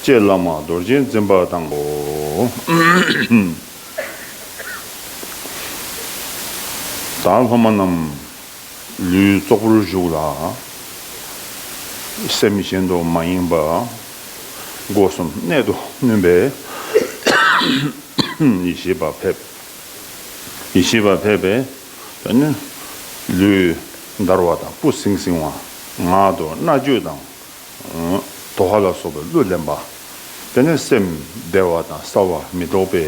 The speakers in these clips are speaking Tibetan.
ཅེས་བླ་མ་རྡོ་རྗེ་འཛིན་པ་དང་པོ། དང་སློབ་མ་རྣམས་ལུས་ཙོག་པུར་བཞུགས་ལ། སེམས་གཞན་དུ་མ་ཡེངས་པར་སྒོ་གསུམ་གནད་དུ་བསྣུན་པས། ཡེ་ཤེས་པ་ཕེབས། ཡེ་ཤེས་པ་ཕེབས་པས་དེ་ནས་ལུས་འདར་བ་དང་སྤུ་བསྲིངས་བསྲིངས་བ་ངག་ཏུ་རྣ་གཅོད་དང་དོ་ཧ་ལ་སོགས་པའི་གླུས་བརླན་པ། དེ་ནས་སེམས་བདེ་བ་དང་སྲ་བ་མི་ལྡོག་པའི་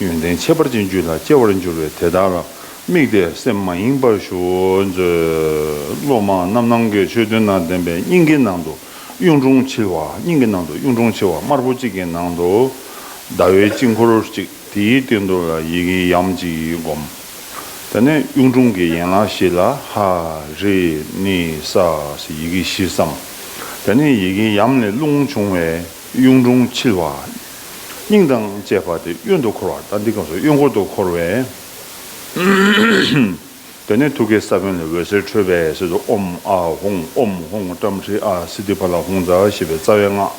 ཡོན་ཏན་ཁྱད་པར་ཅན་རྒྱུད་ལ་སྐྱེ་བར་འགྱུར་བས་དེ་དག་ལ་དམིགས་ཏེ་སེམས་མ་ཡེངས་པར་ཞུ། མཛོད། སློབ་མ་རྣམས་ནང་གི་ཆོས་བདུན་དང་ལྡན་པའི་སྙིང་གའི་ནང་དུ་གཡུང་དྲུང་འཁྱིལ་བ་སྙིང་གི་ནང་དུ་གཡུང་དྲུང་འཁྱིལ་བ་དམར་པོ་གཅིག་གི་ནང་དུ་ཟླ་བའི་དཀྱིལ་འཁོར་གཅིག་དེའི་སྟེང་དུ་ལ་ཡི་གེ་ཡམ་གཅིག་བསྒོམ། ད་ནས་གཡུང་དྲུང་གི་ཡན་ལག་བཞི་ལ་ཧ་རི་ནི་ས་ཞེས་ཡི་གེ་བཞི་བསམ། ད་ནི་ཡི་གེ་ཡམས་ལས་རླུང་བྱུང་བས་གཡུང་དྲུང་འཁྱིལ་བ། སྙིང་དང་བཅས་པ་སྟེ་གཡོན་དུ་འཁོར་བ་ལྟར་འདི་སྐབས་སུ་གཡོན་སྐོར་དུ་འཁོར་བས། ད་ནི་ཐུགས་ཀའི་ས་བོན་ལས་འོད་ཟེར་འཕྲོས་པས་སྲིད་དུ་ཨོམ་ཨ་ཧོང་ཨོམ་ཧོང་བཀྲམ་ཧྲི་ཨ་སི་ཏི་བ་ལ་ཧོང་ཛ་ཞེས་པའི་རྩ་བའི་སྔགས།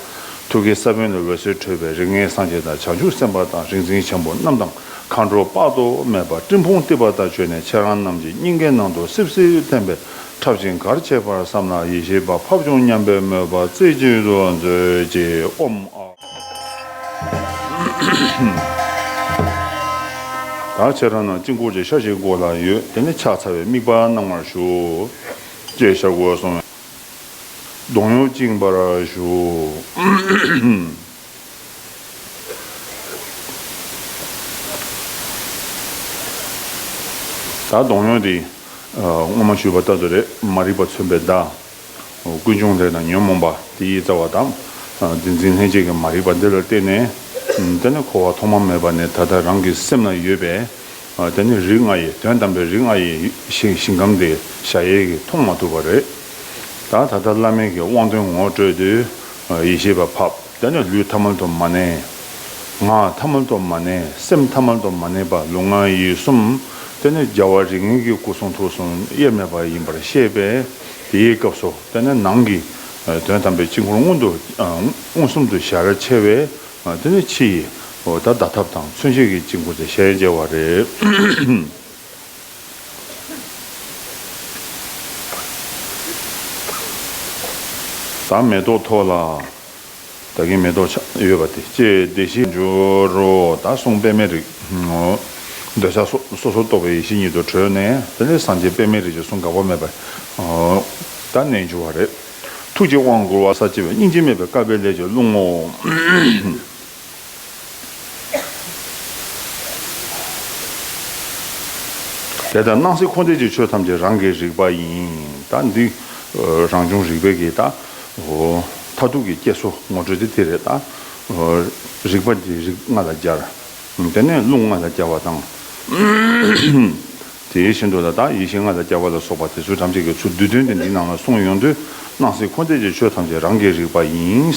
ཐུགས་ཀའི་ས་བོན་ལས་འོད་ཟེར་འཕྲོས་པས་རིགས་ལྔའི་སངས་རྒྱས་དང་བྱང་ཆུབ་སེམས་དཔའ་དང་རིག་འཛིན་ཆེན་པོ་རྣམས་དང་མཁའ་འགྲོ་དཔག་ཏུ་མེད་པ་སྤྲིན་ཕུང་གཏིབས་པ་དག་བྱོན་ནས་ཁྱེད་རང་རྣམས་ཀྱི་སྙིང་གའི་ནང་དུ་སིབ་སིབ་ཐིམ་པས་འཁྲབ་ཅིང་གར་བྱེད་པར་བསམ་ལ་ཡེ་ཤེས་པ་ཕབ་བྱུང་སྙམ་པའི་མོས་པ་རྩེ་གཅིག་ཏུ་མཛོད་ཀྱིས་ཨོམ་ཨཱ། ད་ཁྱེད་རང་རྣམས་དཀྱིལ་འཁོར་གྱི་ཤ་ཞིག་མགོ་ལ་ཡོད་དེ་ནི་ཕྱག་འཚལ་བའི་དམིགས་པ་གནང་བར་ཞུ། ཅེས་ཞབས་གོས་བཟུང་བས་གདོང་གཡོགས་བཅིང་བར་ཞུ། ད་གདོང་གཡོགས་དེ། སྔོན་མ་ཞུས་པ་ལྟར་དུ་རེད་མ་རིག་པ་མཚོན་པའི་བརྡ། ཀུན་འབྱུང་ལས་དང་ཉོན་མོངས་པ་དེ་ཡི་རྩ་བ་དང། དེ་འཛིན་ལྷན་སྐྱེས་ཀྱི་མ་རིག་པ་འདི་ལ་བརྟེན་ནས། དེ་ནི་འཁོར་བ་ཐོག་མ་མེད་པ་ནས་ད་ལྟ་རང་གི་སེམས་ལ་ཡོད་པས། དེ་ནི་རིགས་ལྔ་ཡི་དོན་དམ་པའི་རིགས་ལྔ་ཡི་ཞིང་ཁམས་དེ་ཞྭ་ཡལ་གྱིས་མཐོང་མ་ཐུབ་པ་རེད། ད་ད་ལྟ་བླ་མེད་ཀྱི་དབང་དོན་ངོ་སྤྲོད་དུས། ཡེ་ཤེས་པ་ཕབ་བསྟན་ནས་ལུས་ཐ་མལ་དུ་མ་གནས། ངག་ཐ་མལ་དུ་མ་གནས་སེམས་ཐ་མལ་དུ་མ་གནས་པ་ལུས་ངག་ཡིད་གསུམ་བསྟན་ནས་རྒྱལ་བ་རིགས་ངན་གྱི་སྐུ་གསུང་ཐུགས་གསུམ་དབྱེར་མེད་པ་ཡིན་པར་ཤེས་པས་དེའི་སྐབས་སུ་བསྟན་ནས་ནང་གི་དོན་དམ་པའི་དཀྱིལ་འཁོར་མངོན་དུ་མངོན་སུམ་དུ་ཞལ་ཕྱེ་བས་དེ་ནི་ཕྱི་ཡི་བརྡ་ཐབས་དང་མཚོན་བྱེད་ཀྱི་དཀྱིལ་འཁོར་དེ་ཞལ་མཇལ་བ་རེད། དང་མེ་ཏོག་འཐོར་ལ། ད་གིན་མེ་ཏོག་ཆ་ཡོད་པ་དེ་སྐྱེས་བདེ་གཤེགས་སྦྱོར་རོ། ད་གསུངས་པདྨའི་རིགས། འདོད་ཆགས་སོ་སོར་རྟོག་པའི་ཡེ་ཤེས་ཉིད་དུ་གྲོལ་ནས་དེ་ལས་སངས་རྒྱས་པདྨའི་རིགས་ཀྱི་གསུང་འགག་པ་མེད་པར་ད་རྣལ་འབྱོར་བ་རེད། ཐུགས་ཀྱི་དབང་བསྐུར་བ་ས་བཅད་པའི་སྙིང་རྗེ་མེད་པའི་དཀའ་བའི་ལས་ཀྱི་རླུང་ངོ། དེ་ལྟར་སྣང་སྲིད་འཁོར་འདས་ཀྱི་ཆོས་ཐམས་ཅད་རང་གིས་རིག་པ་ཡིན། ད་འདི། རང་བྱུང་རིག་པའི་གེགས་དང། མཐར་ཐུག་གི་སྐྱེལ་སོ་ངོ་སྤྲོད་དེ་དེ་རེད་ད། རིག་པ་འདི་རིགས་ལྔ་ལ་སྦྱར། དེ་ནས་རླུང་ལྔ་ལ་སྦྱར་བ་དང། དེ་བཞིན་དུ་ལ་དྭགས་ཡེ་ཤེས་ལྔ་དང་སྐྱ་བྷ་ལ་སོགས་པ་དེ་ཚུལ་ཐམས་ཅད་ཀྱི་ཚུལ་བསྡུས་དོན་དེ་འདི་རྣམས་ལ་གསུངས་ཡོང་དུས་སྣང་སྲིད་འཁོར་འདས་ཀྱི་ཆོས་ཐམས་ཅད་རང་གིས་རིག་པ་ཡིན།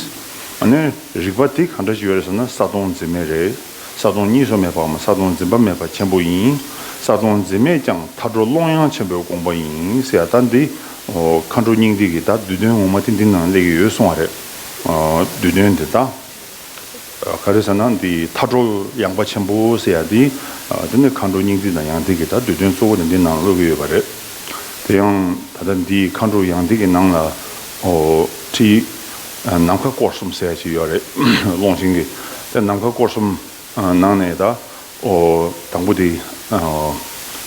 ནས། རིག་པ་དེ་གང་འདྲ་ཞིག་ཡོད་རེད་ཟེར་ན་ས་སྟོང་འཛིན་མེད་རེད། ས་སྟོང་གཉིས་སུ་མེད་པའམ་ས་སྟོང་འཛིན་པ་མེད་པ་ཆེན་པོ་ཡིན། ས་སྟོང་འཛིན་མེད་ཀྱང་མཐའ་གྲོ་ཀློང་ཡངས་ཆེན་པོའི་དགོངས་པ་ཡིན་ཟེར་ཡ་ད་འདི། མཁའ་འགྲོ་སྙིང་ཏིག་གི་ད་བསྡུས་དོན་ངོ་མ་དེ་འདི་ནང་ལས་ཀྱི་ཡོད་གསུངས་བ་རེད། བསྡུས་དོན་དེ་ད། ག་རེ་ཟེར་ན་འདི་མཐའ་འགྲོ་ཡངས་པ་ཆེན་པོ་ཟེར་ཡ་འདི། འདི་ནི་མཁའ་འགྲོ་སྙིང་ཏིག་དང་ཡང་ཏིག་གི་ད་འདོད་དོན་གཙོ་བོ་ནི་འདི་ནང་ལ་དབོལ་གྱི་ཡོད་པ་རེད། དེ་ཡང་ད་ལྟ་འདི་མཁའ་འགྲོ་ཡང་ཏིག་གི་ནང་ལ་ཁྲིད་ནམ་མཁའ་སྐོར་གསུམ་ཟེར་ཡ་ཞིག་ཡོད་རེད་ཀློང་ཆེན་གྱི་དེ་ནམ་མཁའ་སྐོར་གསུམ་ནང་ནས་ད་དང་པོ་དེ་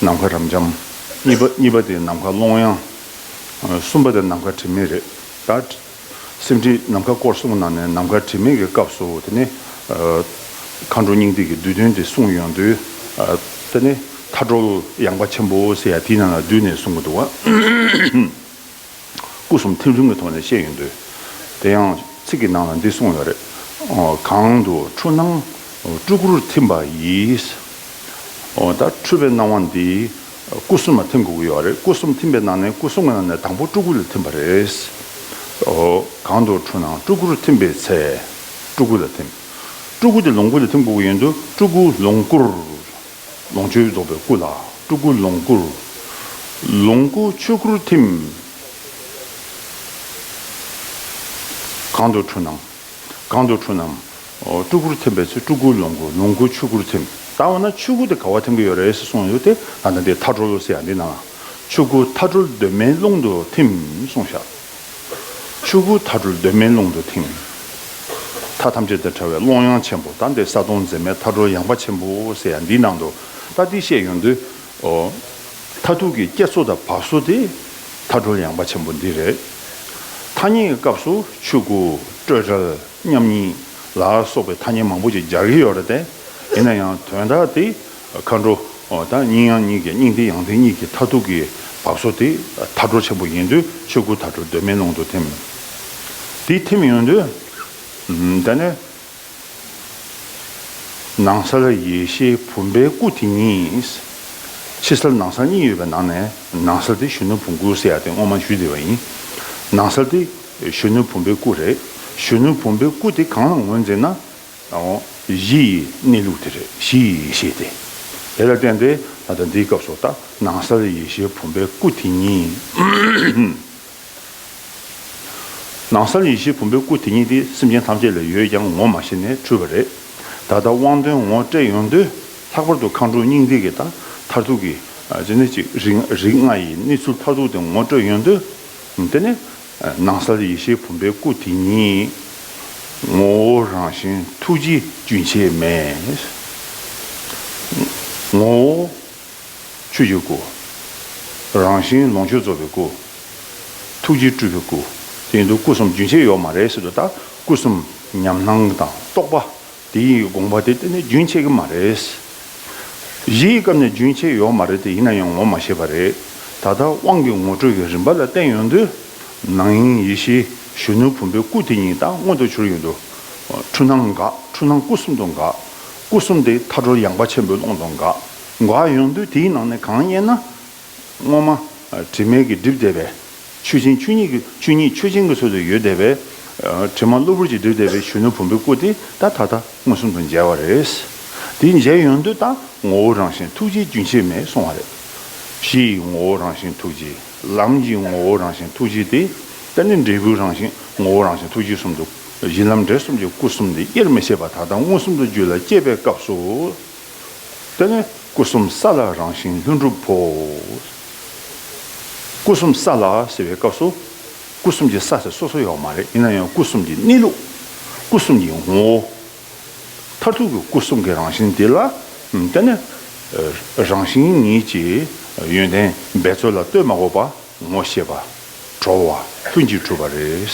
ནམ་མཁའ་རབ་འབྱམས། གཉིས་པ་དེ་ནམ་མཁའ་ཀློང་ཡངས། གསུམ་པ་དེ་ནམ་མཁའ་དྲི་མེད་རེད་ད། སེམས་ཁྲིད་ནམ་མཁའ་སྐོར་གསུངས་གནང་ནས་ནམ་མཁའ་དྲི་མེད་ཀྱི་སྐབས་སུ་དེ་ནི། མཁའ་འགྲོ་སྙིང་ཏིག་གི་བསྡུས་དོན་དེ་གསུངས་ཡོང་དུས། དེ་ནི་མཁའ་འགྲོ་ཡངས་པ་ཆེན་པོ་ཟེར་ཡ་དེའི་ནང་ལ་བསྡུས་ནས་གསུངས་ཀྱི་འདུག་བ། སྐུ་གསུམ་ཐིམ་རིམ་གྱི་ཐོག་ནས་བཤད་ཡོང་དུས། དེ་ཡང་ཚིག་གི་ནང་ལ་འདི་གསུངས་ཡོད་རེད། གང་དུ་འཁྲུལ་སྣང་སྤྲུལ་སྐུར་ཐིམ་པ་ཡིས། འདི་འཁྲུལ་པའི་སྣང་བ་འདི། སྐུ་གསུམ་ལ་ཐིམ་དགོས་ཀྱི་ཡོད་རེད་སྐུ་གསུམ་ཐིམ་པའི་ནང་ནས་སྐུ་གསུམ་གྱི་ནང་ནས་དང་པོ་སྤྲུལ་སྐུ་ལ་ཐིམ་པ་རེད། འོ། གང་དུ་འཁྲུལ་སྣང་སྤྲུལ་སྐུར་ཐིམ་པའི་ཚེ། སྤྲུལ་སྐུ་ལ་ཐིམ། སྤྲུལ་སྐུ་དེ་ལོངས་སྐུ་ལ་ཐིམ་དགོས་ཀྱི་ཡོད་འདུག་སྤྲུལ་སྐུ་ལོངས་སྐུར། ལོངས་སྤྱོད་རྫོགས་པའི་སྐུ་ལ་སྤྲུལ་སྐུ་ལོངས་སྐུར། ལོངས་སྐུ་ཆོས་སྐུར་ཐིམ། གང་དུ་འཁྲུལ་སྣང། གང་དུ་འཁྲུལ་སྣང། སྤྲུལ་སྐུར་ཐིམ་པའི་ཚེ་སྤྲུལ་སྐུ་ལོངས་སྐུ་ལོངས་སྐུ་ཆོས་སྐུར་ཐིམ། ད་འོ་ན་ཆོས་སྐུ་དེ་ག་བ་ཐིམ་གྱི་ཡོད་རེད་ཟེར་གསུངས་ཡོད་དེ། ད་ནི་དེ་མཐའ་གྲོལ་ལོ་ཟེར་ཡ་འདི་ན། ཆོས་སྐུ་མཐའ་གྲོལ་གདོད་མའི་ཀློང་དུ་ཐིམ་གསུངས་བཞག། ཆོས་སྐུ་མཐའ་གྲོལ་གདོད་མའི་ཀློང་དུ་ཐིམ། མཐའ་ཐམས་ཅད་དང་བྲལ་བའི་ཀློང་ཡངས་ཆེན་པོ་ད་འདི་ས་དོང་མཛེས་མའི་མཐའ་གྲོལ་ཡངས་པ་ཆེན་པོ་ཟེར་ཡ་འདིའི་ནང་དུ། ད་འདི་བཤད་ཡོང་དུས། འོ། མཐའ་ཐུག་གི་སྐྱེ་ཚོ་དང་བབས་ཚོ་དེ། མཐའ་གྲོལ་ཡངས་པ་ཆེན་པོ་འདི་རེད། མཐའ་གཉིས་ཀྱི་སྐབས་སུ་ཆོས་སྐུ་སྤྲོས་བྲལ། མཉམ་ཉིད་ལ་སོགས་པའི་ཐ་སྙད་མང་པོ་ཞིག་སྦྱར་གྱི་ཡོད་རེད་དེ། ཡིན་ན་ཡང་དོན་དག་དེ་མཁའ་འགྲོ་དང་སྙིང་ཡང་གཉིས་ཀྱི་སྙིང་ཏིག་ཡང་ཏིག་གཉིས་ཀྱི་མཐར་ཐུག་གི་བབས་སོ་དེ་མཐའ་འགྲོ་ཆེན་པོ་ཡིན་དུས་ཆོས་སྐུ་མཐའ་འགྲོ་གདོད་མའི་ཀློང་དུ་ཐིམ། དེ་ཐིམ་ཡོང་དུས་དེ་ནི་ནང་སར་ཡེ་ཤེས་བུམ་པའི་སྐུ་དེ་ཉིད། ཕྱི་སར་ནང་སར་གཉིས་ཡོད་པའི་ནང་ནས་ནང་སར་དེ་ཞུ་ན་བུམ་སྐུའི་སའི་ཡ་དེ་སྔོན་མ་ཞུས་བསྡད་པ་ཡིན། ནང་སར་དེ་གཞོན་ནུ་བུམ་པའི་སྐུ་རེད། གཞོན་ནུ་བུམ་པའི་སྐུ་དེ་གང་ལ་ངོས་འཛིན་ན། གཞི་ཡི་གནས་ལུགས་དེ་རེད་གཞི་ཡི་ཡེ་ཤེས་དེ། དེ་ལ་བརྟེན་ཏེ་ད་ལྟ་འདིའི་སྐབས་སུ་ལྟ་ན་གསལ་ཡེ་ཤེས་བུམ་པའི་སྐུ་དེ་ཉིད། ནང་གསལ་ཡེ་ཤེས་བུམ་པའི་སྐུ་དེ་ཉིད་དེ་སེམས་ཅན་ཐམས་ཅད་ལ་ཡོད་ཀྱང་ངོ་མ་ཤེས་ནས་འཁྲུལ་བ་རེད། ད་ལྟ་དབང་དོན་ངོ་སྤྲད་ཡོང་དུས་ལྷག་པར་དུ་མཁའ་འགྲོ་སྙིང་ཏིག་གི་ད་མཐར་ཐུག་གི་རིགས་ལྔ་ཡི་གནས་ཚུལ་མཐར་ཐུག་དེ་ངོ་སྤྲོད་ཡོང་དུས། འདི་ནི་ནང་གསལ་ཡེ་ཤེས་བུམ་པའི་སྐུ་དེ་ཉིད། ངོ་བོ་རང་བཞིན་ཐུགས་རྗེ་རྒྱུན་ཆད་མེད། ངོ་བོ་ཆོས་ཀྱི་སྐུ། རང་བཞིན་ལོངས་སྤྱོད་རྫོགས་པའི་སྐུ། ཐུགས་རྗེ་སྤྲུལ་པའི་སྐུ། དེ་ཡིན་དུ་སྐུ་གསུམ་རྒྱུན་ཆད་ཡོད་མ་རེད་ཟེར་དུས་ད་སྐུ་གསུམ་ཉམས་སྣང་དང་རྟོག་པ་དེ་ཡི་དགོངས་པ་དེ་གཏན་ནས་རྒྱུན་ཆད་ཀྱི་མ་རེད། གཞིའི་སྐབས་ནས་རྒྱུན་ཆད་ཡོད་མ་རེད་དེ་ཡིན་ན་ཡང་ངོ་མ་ཤེས་པ་རེད། ད་ལྟ་དབང་གི་ངོ་སྤྲོད་ཀྱི་རིམ་པ་ལ་བརྟེན་ཡོང་དུས། ནང་དབྱིངས་ཡེ་ཤེས་གཞོན་ནུ་བུམ་པའི་སྐུ་དེ་ཉིད་ད་མངོན་དུ་གྱུར་ཡོད་འདུག་འཁྲུལ་སྣང་འགག་འཁྲུལ་སྣང་སྐུ་གསུམ་དུ་འགག། སྐུ་གསུམ་དེ་མཐའ་འཁྲོལ་ཡངས་པ་ཆེན་པོའི་ཀློང་དུ་འགག། འགག་ཡོང་དུས་དེའི་ནང་ནས་གང་རྙེད་ན། སྔོན་མ། དྲི་མེད་ཀྱི་སྒྲིབ་བསྡེབས་པའི། ཆོས་ཅན་ཆོས་ཉིད་ཀྱི་ཆོས་ཉིད་ཆོས་ཅན་གྱི་ཚུལ་དུ་ཡུལ་བསྡེབས་པའི། དྲི་མ་གློ་བུར་གྱི་སྒྲིབ་བསྡེབས་པའི་གཞོན་ནུ་བུམ་པའི་སྐུ་དེ་དག་ད་ལྟ་མངོན་སུམ་དུ་མཇལ་བ་རེད། དེ་མཇལ་ཡོང་དུས་ད་ངོ་བོ་རང་བཞིན་ཐུགས་རྗེ་རྒྱུན་ཆད་མེད་སོང་བ་རེད། གཞི་ཡི་ངོ་བོ་རང་བཞིན་ཐུགས་རྗེ། ལམ་གྱི་ངོ་བོ་རང་བཞིན་ཐུགས་རྗེ་སྟེ། ད་ནི་འབྲས་བུའི་རང་བཞིན་ངོ་བོ་རང་བཞིན་ཐུགས་རྗེ་གསུམ་དུ། གཞི་ལམ་འབྲས་གསུམ་གྱི་སྐུ་གསུམ་དེ་དབྱེར་མི་ཕྱེད་པ་ད་ལྟ་མངོན་སུམ་དུ་རྒྱུད་ལ་སྐྱེས་པའི་སྐབས་སུ། དཔལ་ལྡན་སྐུ་གསུམ་ས་ལ་རང་བཞིན་ལྷུན་གྲུབ་བོ། སྐུ་གསུམ་ས་ལ་ཟེར་བའི་སྐབས་སུ། སྐུ་གསུམ་གྱི་ས་ཟེར་སོ་སོ་ཡོད་མ་རེད་ཡིན་ན་ཡང་སྐུ་གསུམ་གྱི་གནས་ལུགས། སྐུ་གསུམ་གྱི་ངོ་བོ། མཐར་ཐུག་གི་སྐུ་གསུམ་གྱི་རང་བཞིན་དེ་ལ། དཔལ་ལྡན་རང་བཞིན་ཉིད་ཀྱི་ཡོན་ཏན་འབད་རྩོལ་ལ་ལྟོས་མ་དགོས་པར། ངོ་ཤེས་པ། དྲོ་བ། ཀུན་གྱིས་གྲུབ་པ་རེད།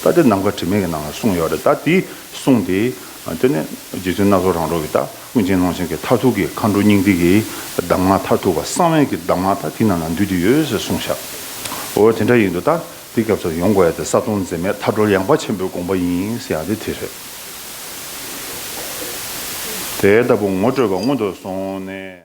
རྟགས་དེ་ནམ་མཁའ་དྲི་མེད་ཀྱི་ནང་ལ་གསུངས་ཡོད་རེད་རྟགས་དེ་གསུངས་ཏེ། དེ་ནི་རྗེ་བཙུན་སྣ་ཚོགས་རང་གྲོལ་གྱི་རྟགས་ཀུན་མཁྱེན་ཀློང་ཆེན་གྱི་མཐར་ཐུག་གི་མཁའ་འགྲོ་སྙིང་ཏིག་གི་གདམས་ངག་མཐར་ཐུག་པ་གསང་བའི་གི་གདམས་ངག་དག་དེ་རྣམས་ལ་འདུས་ཏེ་ཡོད་ཟེར་གསུངས་ཤག་འོ་དེ་འདྲ་ཡིན་དུ་རྟགས་དེ་སྐབས་སུ་ཡོང་དགོས་ཡ་དེ་གསག་སྟོང་འཛིན་མེད་མཐའ་གྲོལ་ཡངས་པ་ཆེན་པོའི་དགོངས་པ་ཡིན་ཟེར་ཡ་དེ་དེ་རེད། དེ་ལྟ་བུ་ངོ་སྤྲོད་པ་སྔོན་དུ་སོང་ནས།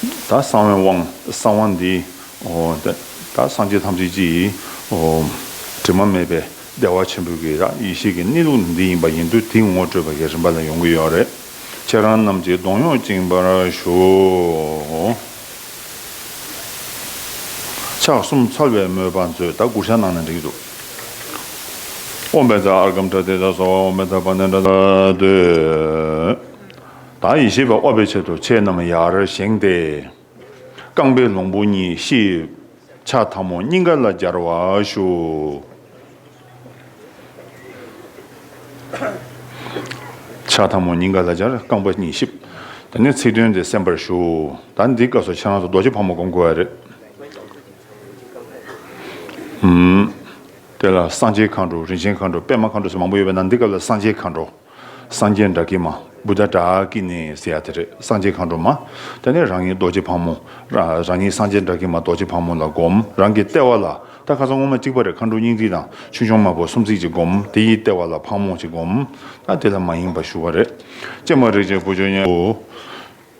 ད་གསང་བའི་དབང་གསང་བ་འདི། ད་སངས་རྒྱས་ཐམས་ཅད་ཀྱི། དྲི་མ་མེད་པའི་བདེ་བ་ཆེན་པོའི་གི་རགས་ཡེ་ཤེས་ཀྱི་གནས་ལུགས་ནི་འདི་ཡིན་པ་ཡིན་དུས་དེའི་ངོ་སྤྲོད་པ་ཡི་རིམ་པ་ལ་ཡོང་གི་ཡོད་རེད། ཁྱེད་རང་རྣམས་ཀྱིས་གདོང་གཡོགས་བཅིངས་པར་ཞུ། ཕྱག་གསུམ་ཚར་བའི་དམོད་པ་མཛོད་ད་གུར་ཤ་ནང་ནས་འགྲིག་འདུག། དབོན་པའི་ཛར་ཨརྒམ་དྲ་ཐིག་དྲ་སོགས་འོག་མའི་ཐབ་པ་ནས་འདྲ་ད་འདོད། དང་ཡེ་ཤེས་པ་དབབ་པའི་ཆེད་དུ་ཆས་རྣམས་ཡར་བཞེངས་ཏེ། རྐང་པའི་ལོང་བུ་གཉིས་གཤིབས། ཕྱག་ཐབ་མོ་སྙིང་ག་ལ་སྦྱར་བ་བཞུགས། ཕྱག་ཐབ་མོ་སྙིང་ག་ལ་སྦྱར་རྐང་པ་གཉིས་གཤིབས། དེ་ནས་ཚིག་དོན་དེ་གསན་པར་ཞུ། ད་འདི་སྐབས་སུ་ཁྱེད་རང་ཚོ་རྡོ་རྗེ་ཕག་མོ་སྒོམ་དགོས་བ་རེད། དེ་ལ་གསང་ཆེན་མཁའ་འགྲོ་རིན་ཆེན་མཁའ་འགྲོ་པདྨ་མཁའ་འགྲོ་སོགས་མང་པོ་ཡོད་པ་ན་འདི་སྐབས་ལ་གསང་ཆེན་མཁའ་འགྲོ། སངས་རྒྱས་འདྲ་ཀི་མ། བུ་དཱ་དཱ་ཀི་ནི་ཟེར་ཡ་དེ་རེད་སངས་རྒྱས་མཁའ་འགྲོ་མ། དེ་ནས་རང་ཉིད་རྡོ་རྗེ་ཕག་མོ། རང་ཉིད་སངས་རྒྱས་འདྲ་ཀི་མ་རྡོ་རྗེ་ཕག་མོ་ལ་བསྒོམ་རང་གི་ལྟེ་བ་ལ་ད་ག་ས་སྔོ་མ་གཅིག་པ་རེ་མཁའ་འགྲོ་སྙིང་ཐིག་དང་ཆོས་འབྱུང་དམར་པོ་སུམ་བརྩེགས་གཅིག་བསྒོམ་དེ་ཡི་ལྟེ་བ་ལ་ཕག་མོ་གཅིག་བསྒོམ། ད་དེ་ལ་མ་ཡེངས་པར་ཞུ་བ་རེད། ཀྱེ་མ་རིག་བྱེད་བུ་ཆུང་ངའོ།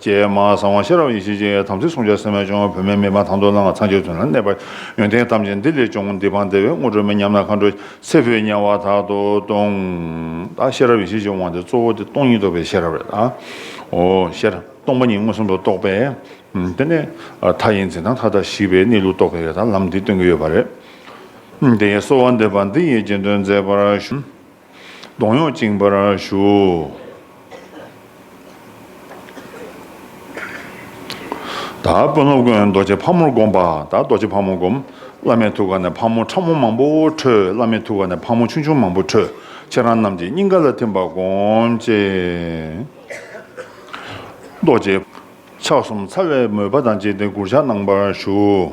ཅེས་སྨྲ། གསང་བ་ཤེས་རབ་ཡེ་ཤེས་ཀྱི་དམ་ཚིག་བསྲུང་བྱ་སེམས་མེད་འབྱུང་བ་བུད་མེད་མི་ཕམ་དང་དུ་བླངས་ཚངས་སྤྱོད་དོན་ལ་གནས་པ། ཡོན་ཏན་ཐམས་ཅད་འདི་ལས་འབྱུང་འདི་འཕངས་བདེ་བའི་དངོས་གྲུབ་མེད་སྙམ་ན་མཁའ་འགྲོ་ཚེ་འཕོས་དམྱལ་བ་དག་ཏུ་ལྟུང། དང། ཤེས་རབ་ཡེ་ཤེས་ཀྱི་དབང་སྟེ་གཙོ་བོ་དེ་སྟོང་ཉིད་རྟོགས་པའི་ཤེས་རབ་རེད། ཨོ། ཤེས་རབ་སྟོང་པ་ཉིད་མངོན་སུམ་དུ་རྟོགས་པས། དེ་ནི་མཐའ་ཡི་འཛིན་སྟངས་མཐའ་དག་ཞི་བའི་གནས་ལུགས་རྟོགས་པའི་ལམ་འདི་སྟོན་གྱི་ཡོད་པ་རེད། དེ་ཡི་གསོལ་བ་འདེབས་པ་འདི་ཡིས་རྗེས་ཟློས་མཛད་པར་ཞུ། གདོང་གཡོགས་བཅིང་བར་ཞུ། ད་དཔོན་སློབ་དགོན་རྡོ་རྗེ་ཕག་མོར་བསྒོམ་པ། ད་རྡོ་རྗེ་ཕག་མོ་བསྒོམ། བླ་མའི་ཐུགས་ཀ་ནས་ཕག་མོ་ཕྲ་མོ་མང་པོ་འཕྲོས། བླ་མའི་ཐུགས་ཀ་ནས་ཕག་མོ་ཆུང་ཆུང་མང་པོ་འཕྲོས། ཁྱེད་རང་རྣམས་ཀྱི་སྙིང་ག་ལ་ཐིམ་པར་བསྒོམ། ཅེས་རྡོ་རྗེ། ཕྱག་གསུམ་ཚ་བའི་མོས་པ་དང་བཅས་ཏེ་གུར་ཕྱག་གནང་བར་ཞུ།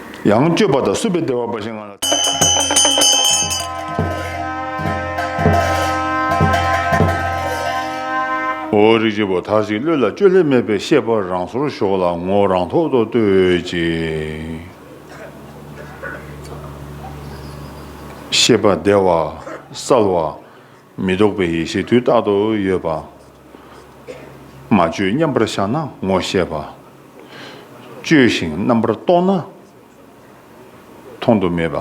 ཡང་སྤྱོད་པ་དང་བསྲུབས་པའི་བདེ་བ་འབའ་ཞིག་ང་ལ། འོ་རིགས་ཀྱི་བུ་དག་ཅིག་བློས་ལ་བཅོས་ལྷད་མེད་པའི་ཤེས་པ་རང་སོར་ཞོག་ལ་ངོ་བོ་རང་ཐོག་ཏུ་ལྟོས་ཅིག། ཤེས་པ་བདེ་བ་གསལ་བ། མི་རྟོག་པའི་ཡེ་ཤེས་དུས་རྟག་ཏུ་ཡོད་པ། མ་བཅོས་མཉམ་པར་བཞག་ན་ངོ་ཤེས་པ། བཅོས་ཤིང་རྣམ་པར་རྟོག་ན་མཐོང་དུ་མེད་པ།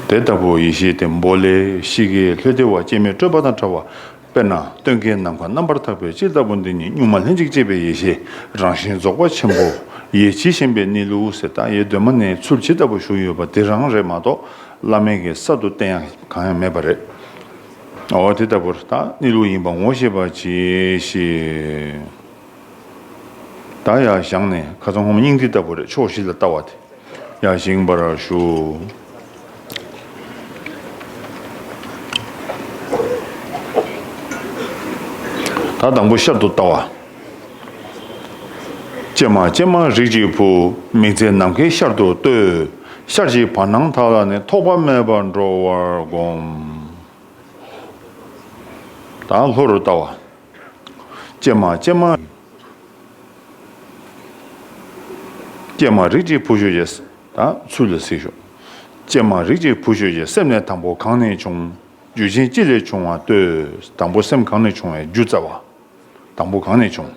དེ་ལྟ་བུའི་ཡེ་ཤེས་དེ་འབོ་ལའི་གཤིས་ཀའི་ལྷོད་དེ་བ་ཅན་མི་སྤྲོས་པ་དང་བྲལ་བ། དཔེར་ན་སྟོན་ཀའི་ནམ་མཁའ་རྣམ་པར་དག་པའི་སྤྱི་ལྟ་བུ་འདི་ཉིད་གཉུག་མ་ལྷན་ཅིག་སྐྱེས་པའི་ཡེ་ཤེས་རང་བཞིན་རྫོགས་པ་ཆེན་པོ། ཡེ་ཇི་བཞིན་པའི་ནི་ལུས་ཟེར་རྟགས་ཡེ་གདོད་མ་ནས་ཚུལ་ཇི་ལྟ་བུར་བཞུགས་ཡོད་པ་འདི་རང་རེད་མ་གཏོགས་བླ་མེད་ཀྱི་ས་དུ་བསྟན་ཡང་གང་ཡང་མེད་པ་རེད། འོ་དེ་ལྟ་བུར་རྟགས་ནི་ལུས་ཡིན་པར་ངོ་ཤེས་པ་ཇི་ཞིག། བདག་ཡང་བཞག་ནས་ཁ་ཚང་ཧོམ་སྙིང་ཏིག་ལྟ་བུ་རེ་ཕྱོགས་བཞི་ལ་བལྟ་བ་དེ་ཡང་བཞེངས་པར་ཞུ། ད་དང་པོ་ཤར་དུ་བལྟ་བ། ཅེ་མ་ཅེ་མ་རིགས་ཀྱི་བུ། མིག་རྩེ་ནམ་མཁའི་ཤར་དུ་གཏོད། ཤར་གྱི་བར་སྣང་དག་ལ་ནི་ཐོགས་པ་མེད་པར་འགྲོ་བར་བསྒོམ། ད་ལྷོ་རུ་བལྟ་བ། ཀྱེ་མ་ཀྱེ་མ། ཀྱེ་མ་རིགས་ཀྱི་བུ་ཆོས་ཀྱི། ཚུལ་ལ་གཟིགས་ཤོག། ཀྱེ་མ་རིགས་ཀྱི་བུ་ཆོས་ཀྱི་སེམས་ནི་དང་པོ་གང་ནས་བྱུང། རྒྱུ་ཅན་ཅི་ལས་བྱུང་བ་ལྟོས། དང་པོ་སེམས་གང་ནས་བྱུང་བའི་རྒྱུ་རྩ་བ། དང་པོ་གང་ནས་བྱུང།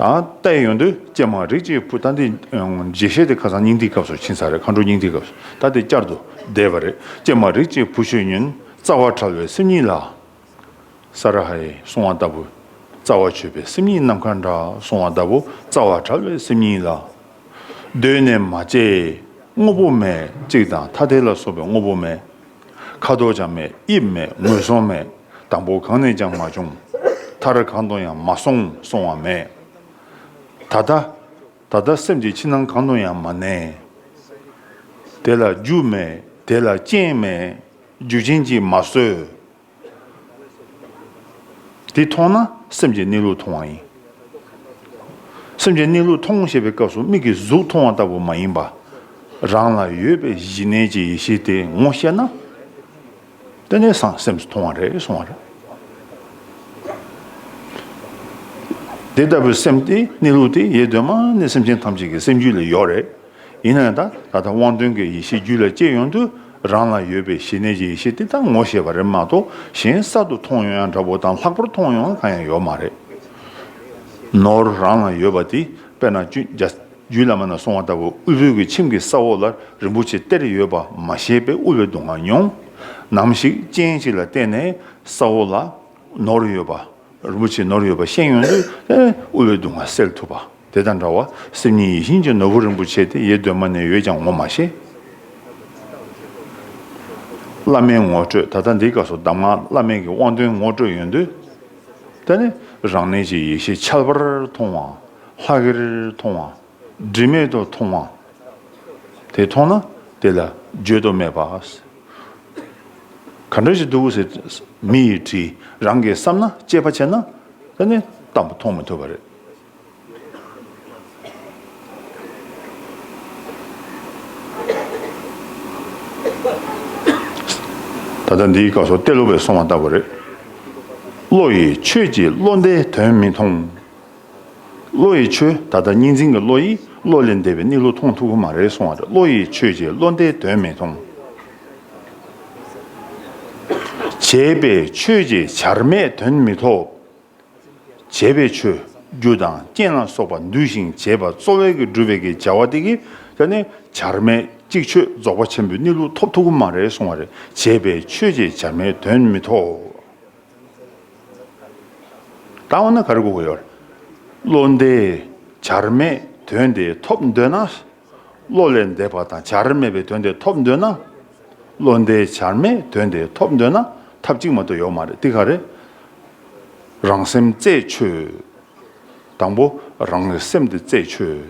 ལྟའི་ཡོན་ཏོ། ཀྱེ་མ་རིགས་ཀྱི་བུ་ལྟ་འདི། རྗེས་ཤེས་ཏེ་ཁ་སང་སྙིང་ཐིག་སྐབས་སུ་ཕྱིན་ས་རེད་མཁའ་འགྲོ་སྙིང་ཐིག་སྐབས་སུ་ལྟ་འདི་བསྐྱར་དུ་བཟླས་པ་རེད། ཀྱེ་མ་རིགས་ཀྱི་བུ་ཆོས་ཉོན་རྩ་བ་ཕྲ་བའི་སེམས་ཉིད་ལ། ས་ར་ཧའི་སྲུང་བ་ལྟ་བུ་རྩ་བ་ཆོད་པའི་སེམས་ཉིད་ནམ་མཁའ་འདྲ་སྲུང་བ་ལྟ་བུ་རྩ་བ་བྲལ་བའི་སེམས་ཉིད་ལ། གདོད་ནས་མ་སྐྱེས་དངོས་པོ་མེད་གཅིག་དང་ཐ་དད་ལ་སོགས་པའི་དངོས་པོ་མེད། ཁ་དོག་ཀྱང་མེད་དབྱིབས་མེད་ངོས་བཟུང་མེད་དང་པོ་གང་ནས་ཀྱང་མ་བྱུང། མཐར་གང་དུ་ཡང་མ་སོང་སོང་བ་མེད། ད་ལྟ། ད་ལྟ་སེམས་ཀྱི་ཕྱི་ནང་གང་དུ་ཡང་མ་གནས། དེ་ལ་རྒྱུ་མེད་དེ་ལ་རྐྱེན་མེད། རྒྱུ་བྱིན་གྱིས་མ་གསོས། དེ་མཐོང་ན་སེམས་ཀྱི་གནས་ལུགས་མཐོང་བ་ཡིན། སེམས་ཀྱི་གནས་ལུགས་མཐོང་ཞེས་པའི་སྐབས་སུ་མིག་གིས་གཟུགས་མཐོང་བ་ལྟ་བུ་མ་ཡིན་པར། རང་ལ་ཡོད་པའི་གཞི་གནས་ཀྱི་ཡེ་ཤེས་དེ་ངོ་ཤེས་ན། དེ་ནས་བཟང་སེམས་སུ་མཐོང་བ་རེད་གསུང་བ་རེད། དེ་ལྟ་བུའི་སེམས་དེ་གནས་ལུགས་དེ་ཡེ་གདོད་མ་ནས་སེམས་ཅན་ཐམས་ཅད་ཀྱི་སེམས་རྒྱུད་ལས་ཡོད་རེད། ཡིན་ནའང་ད་ལྟ་དབང་དོན་གྱི་ཡེ་ཤེས་རྒྱུད་ལ་སྐྱེས་ཡོང་དུས་རང་ལ་ཡོད་པའི་ཞི་གནས་ཀྱི་ཡེ་ཤེས་དེ་དག་ངོ་ཤེས་པ་རེད་མ་གཏོགས་གཞན་གསར་དུ་མཐོང་ཡོང་ཡང་འདྲ་བོ་དང་ལྷག་པར་མཐོང་ཡོང་གང་ཡང་ཡོད་མ་རེད། ནོར་རང་ལ་ཡོད་པ་དེ་དཔེར་ན་གཅུན་རྒྱུད་བླ་མ་ན་སོང་བ་ལྟ་བུ་དབུལ་བོའི་གི་ཁྱིམ་གྱི་ས་འོག་ལ་རིན་པོ་ཆེ་སྟེར་ཡོད་པ་མ་ཤེས་པའི་དབུལ་བོའི་སྡུག་བསྔལ་མྱོང། ནམ་ཞིག་སྤྱན་གཅིག་ལ་བལྟས་ནས་ས་འོག་ལ་ནོར་ཡོད་པ་རིན་པོ་ཆེ་ནོར་ཡོད་པ་ཤེས་ཡོང་དུས་དབུལ་བོའི་སྡུག་བསྔལ་སེལ་ཐུབ་པ། དེ་དང་འདྲ་བར་སེམས་ཉིད་ཡིད་བཞིན་གྱི་ནོར་བུ་རིན་པོ་ཆེ་དེ་ཡེ་གདོད་མ་ནས་ཡོད་ཀྱང་ངོ་མ་ཤེས། བླ་མའི་ངོ་སྤྲོད་ད་ལྟ་འདི་སྐབས་སུ་གདམས་ངག་བླ་མེད་ཀྱི་དབང་དོན་ངོ་སྤྲོད་ཡོང་དུས། དེ་ནི་རང་གནས་ཀྱི་ཡེ་ཤེས་འཆལ་བར་མཐོང་བ། ལྷག་གེར་མཐོང་བ། སྒྲིབ་མེད་དུ་མཐོང་བ། དེ་མཐོང་ན་དེ་ལ་བརྗོད་དུ་མེད་པ། ག་འདྲ་ཞིག་འདུག་ཟེར་དུས་མི་ཡིས་དྲིས་རང་གིས་བསམ་ན་དཔྱད་པ་བྱས་ན་དེ་ནི་བལྟམས་པ་མཐོང་མི་ཐུབ་པ་རེད། ད་ལྟ་འདིའི་སྐབས་སུ་གཏེར་ལུགས་པས་གསུངས་བ་ལྟ་བུ་རེད། བློ་ཡིས་ཆོས་ཀྱིས་བློ་འདས་དོན་མི་མཐོང། བློ་ཡིས་ཆོས་ད་ལྟ་གཉིས་འཛིན་གྱི་བློ་ཡིས་བློ་ལས་འདས་པའི་གནས་ལུགས་མཐོང་ཐུབ་ཀྱི་མ་རེད་གསུངས་བ་རེད་བློ་ཡིས་ཆོས་ཀྱིས་བློ་འདས་དོན་མི་མཐོང། བྱས་པས་ཆོས་ཀྱིས་བྱར་མེད་དོན་མི་ཐོབ། བྱས་པའི་ཆོས་རྒྱུ་དང་རྐྱེན་ལ་སོགས་པ་འདུས་ཤིང་བྱས་པ་གཙོ་བས་ཀྱི་སྒྲུབ་པའི་ཀྱི་བྱ་བ་སྟེ་ཀྱི་ཀ་ནི་བྱར་མེད་ཅིག་ཆོས་རྫོགས་པ་ཆེན་པོའི་གནས་ལུགས་ཐོབ་ཐུགས་མ་རེ་གསུང་བ་རེ་བྱས་པའི་ཆོས་ཀྱི་བྱར་མེད་དོན་མི་ཐོབ། བཏང་བ་ན་ག་རེ་གོ་གི་ཡོད། བློ་འདས་བྱར་མེད་དོན་དེ་ཐོབ་འདོད་ན། བློ་ལས་འདས་པ་དང་བྱར་མེད་པའི་དོན་དེ་ཐོབ་འདོད་ན། བློ་འདས་བྱར་མེད་དོན་དེ་ཐོབ་འདོད་ན་ཐབས་གཅིག་མ་གཏོགས་ཡོད་མ་རེད་དེ་ག་རེད། རང་སེམས་རྩད་ཆོད། དང་པོ་རང་གི་སེམས་དེ་རྩད་ཆོད།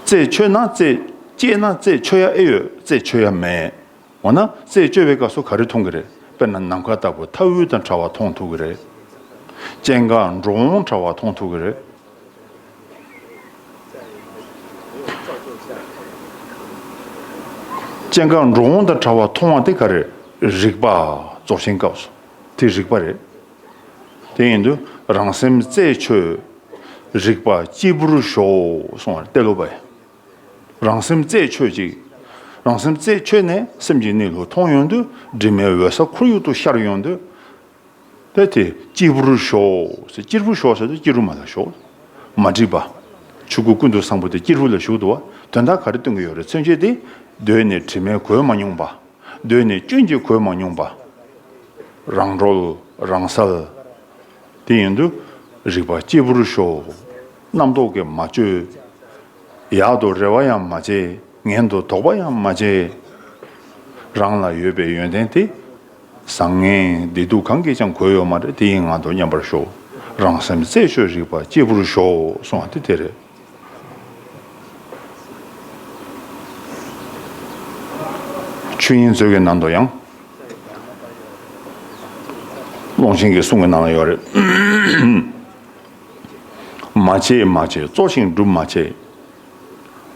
རྩད་ཆོད་ན་རྩད་སྐྱེས་ན་རྩད་ཆོད་ཡ་ཨེ་ཡོད་རྩད་ཆོད་ཡ་མེད། འོ་ན་རྩད་གཅོད་པའི་སྐབས་སུ་ག་རེ་མཐོང་གི་རེད་དཔེར་ན་ནམ་མཁའ་ལྟ་བུ་མཐའ་དབུས་དང་བྲལ་བ་མཐོང་ཐུབ་ཀྱི་རེད། སྤྱན་དགག་འགྲོ་འོང་བྲལ་བ་མཐོང་ཐུབ་ཀྱི་རེད། སྤྱན་དཀར་འགྲོ་འོང་དང་བྲ་བ་མཐོང་བ་དེ་ག་རེད་རིག་པ་རྫོགས་ཆེན་སྐབས་སུ་དེ་རིག་པ་རེད། དེ་ཡིན་དུས་རང་སེམས་རྩད་ཆོད་རིག་པ་སྐྱིད་པོར་ཞོག་གསུང་བར་གཏད་ལོ་བས། རང་སེམས་རྩད་ཆོད་ཅིག་རང་སེམས་རྩད་ཆོད་ནས་སེམས་ཀྱི་གནས་ལུགས་མཐོང་ཡོང་དུས་དྲི་མའི་འོད་ས་ཁོར་ཡུག་ཏུ་ཤར་ཡོང་དུས། པས་དེ་སྐྱེས་བུ་རུ་ཞོག། སྐྱེས་བུ་ཞོག་ཟེར་ཏེ་སྐྱེས་རུ་མ་ལ་ཞོག། མ་བསྒྲིགས་པ། ཆོས་སྐུ་ཀུན་ཏུ་བཟང་པོ་དེ་སྐྱེས་བུ་ལ་ཞུགས་འདུག་བ། དོན་དག་ག་རེ་སྟོན་གྱི་ཡོད་རེ་མཚོན་བྱེད་དེ། གདོད་ནས་དྲི་མས་གོས་མ་མྱོང་པ། གདོད་ནས་སྐྱོན་གྱིས་གོས་མ་མྱོང་པ། རང་གྲོལ་རང་གསལ། དེ་ཡིན་དུ་རིགས་པ་སྐྱེས་བུ་རུ་ཞོག། རྣམ་རྟོག་གིས་མ་བཅོས། ཡག་ཏུ་རེ་བ་ཡང་མ་བྱས་ངན་དུ་དོགས་པ་ཡང་མ་བྱས། རང་ལ་ཡོད་པའི་ཡོན་ཏན་དེ། བཟང་ངན་བདེ་སྡུག་གང་གིས་ཀྱང་གོས་ཡོད་མ་རེད་དེ་ཡི་ངང་དུ་མཉམ་པར་ཞོག་རང་སེམས་རྩད་ཆོད་རིག་པ་སྐྱེས་བུར་ཞོག་གསུང་བ་དེ་དེ་རེད། ཆོས་དབྱིངས་མཛོད་ཀྱི་ནང་དུ་ཡང། ཀློང་ཆེན་གྱི་གསུང་གི་ནང་ལ་ཡོད་རེད། མ་བྱས་མ་བྱས་གཙོ་ཞིང་སྒྲུབ་མ་བྱས།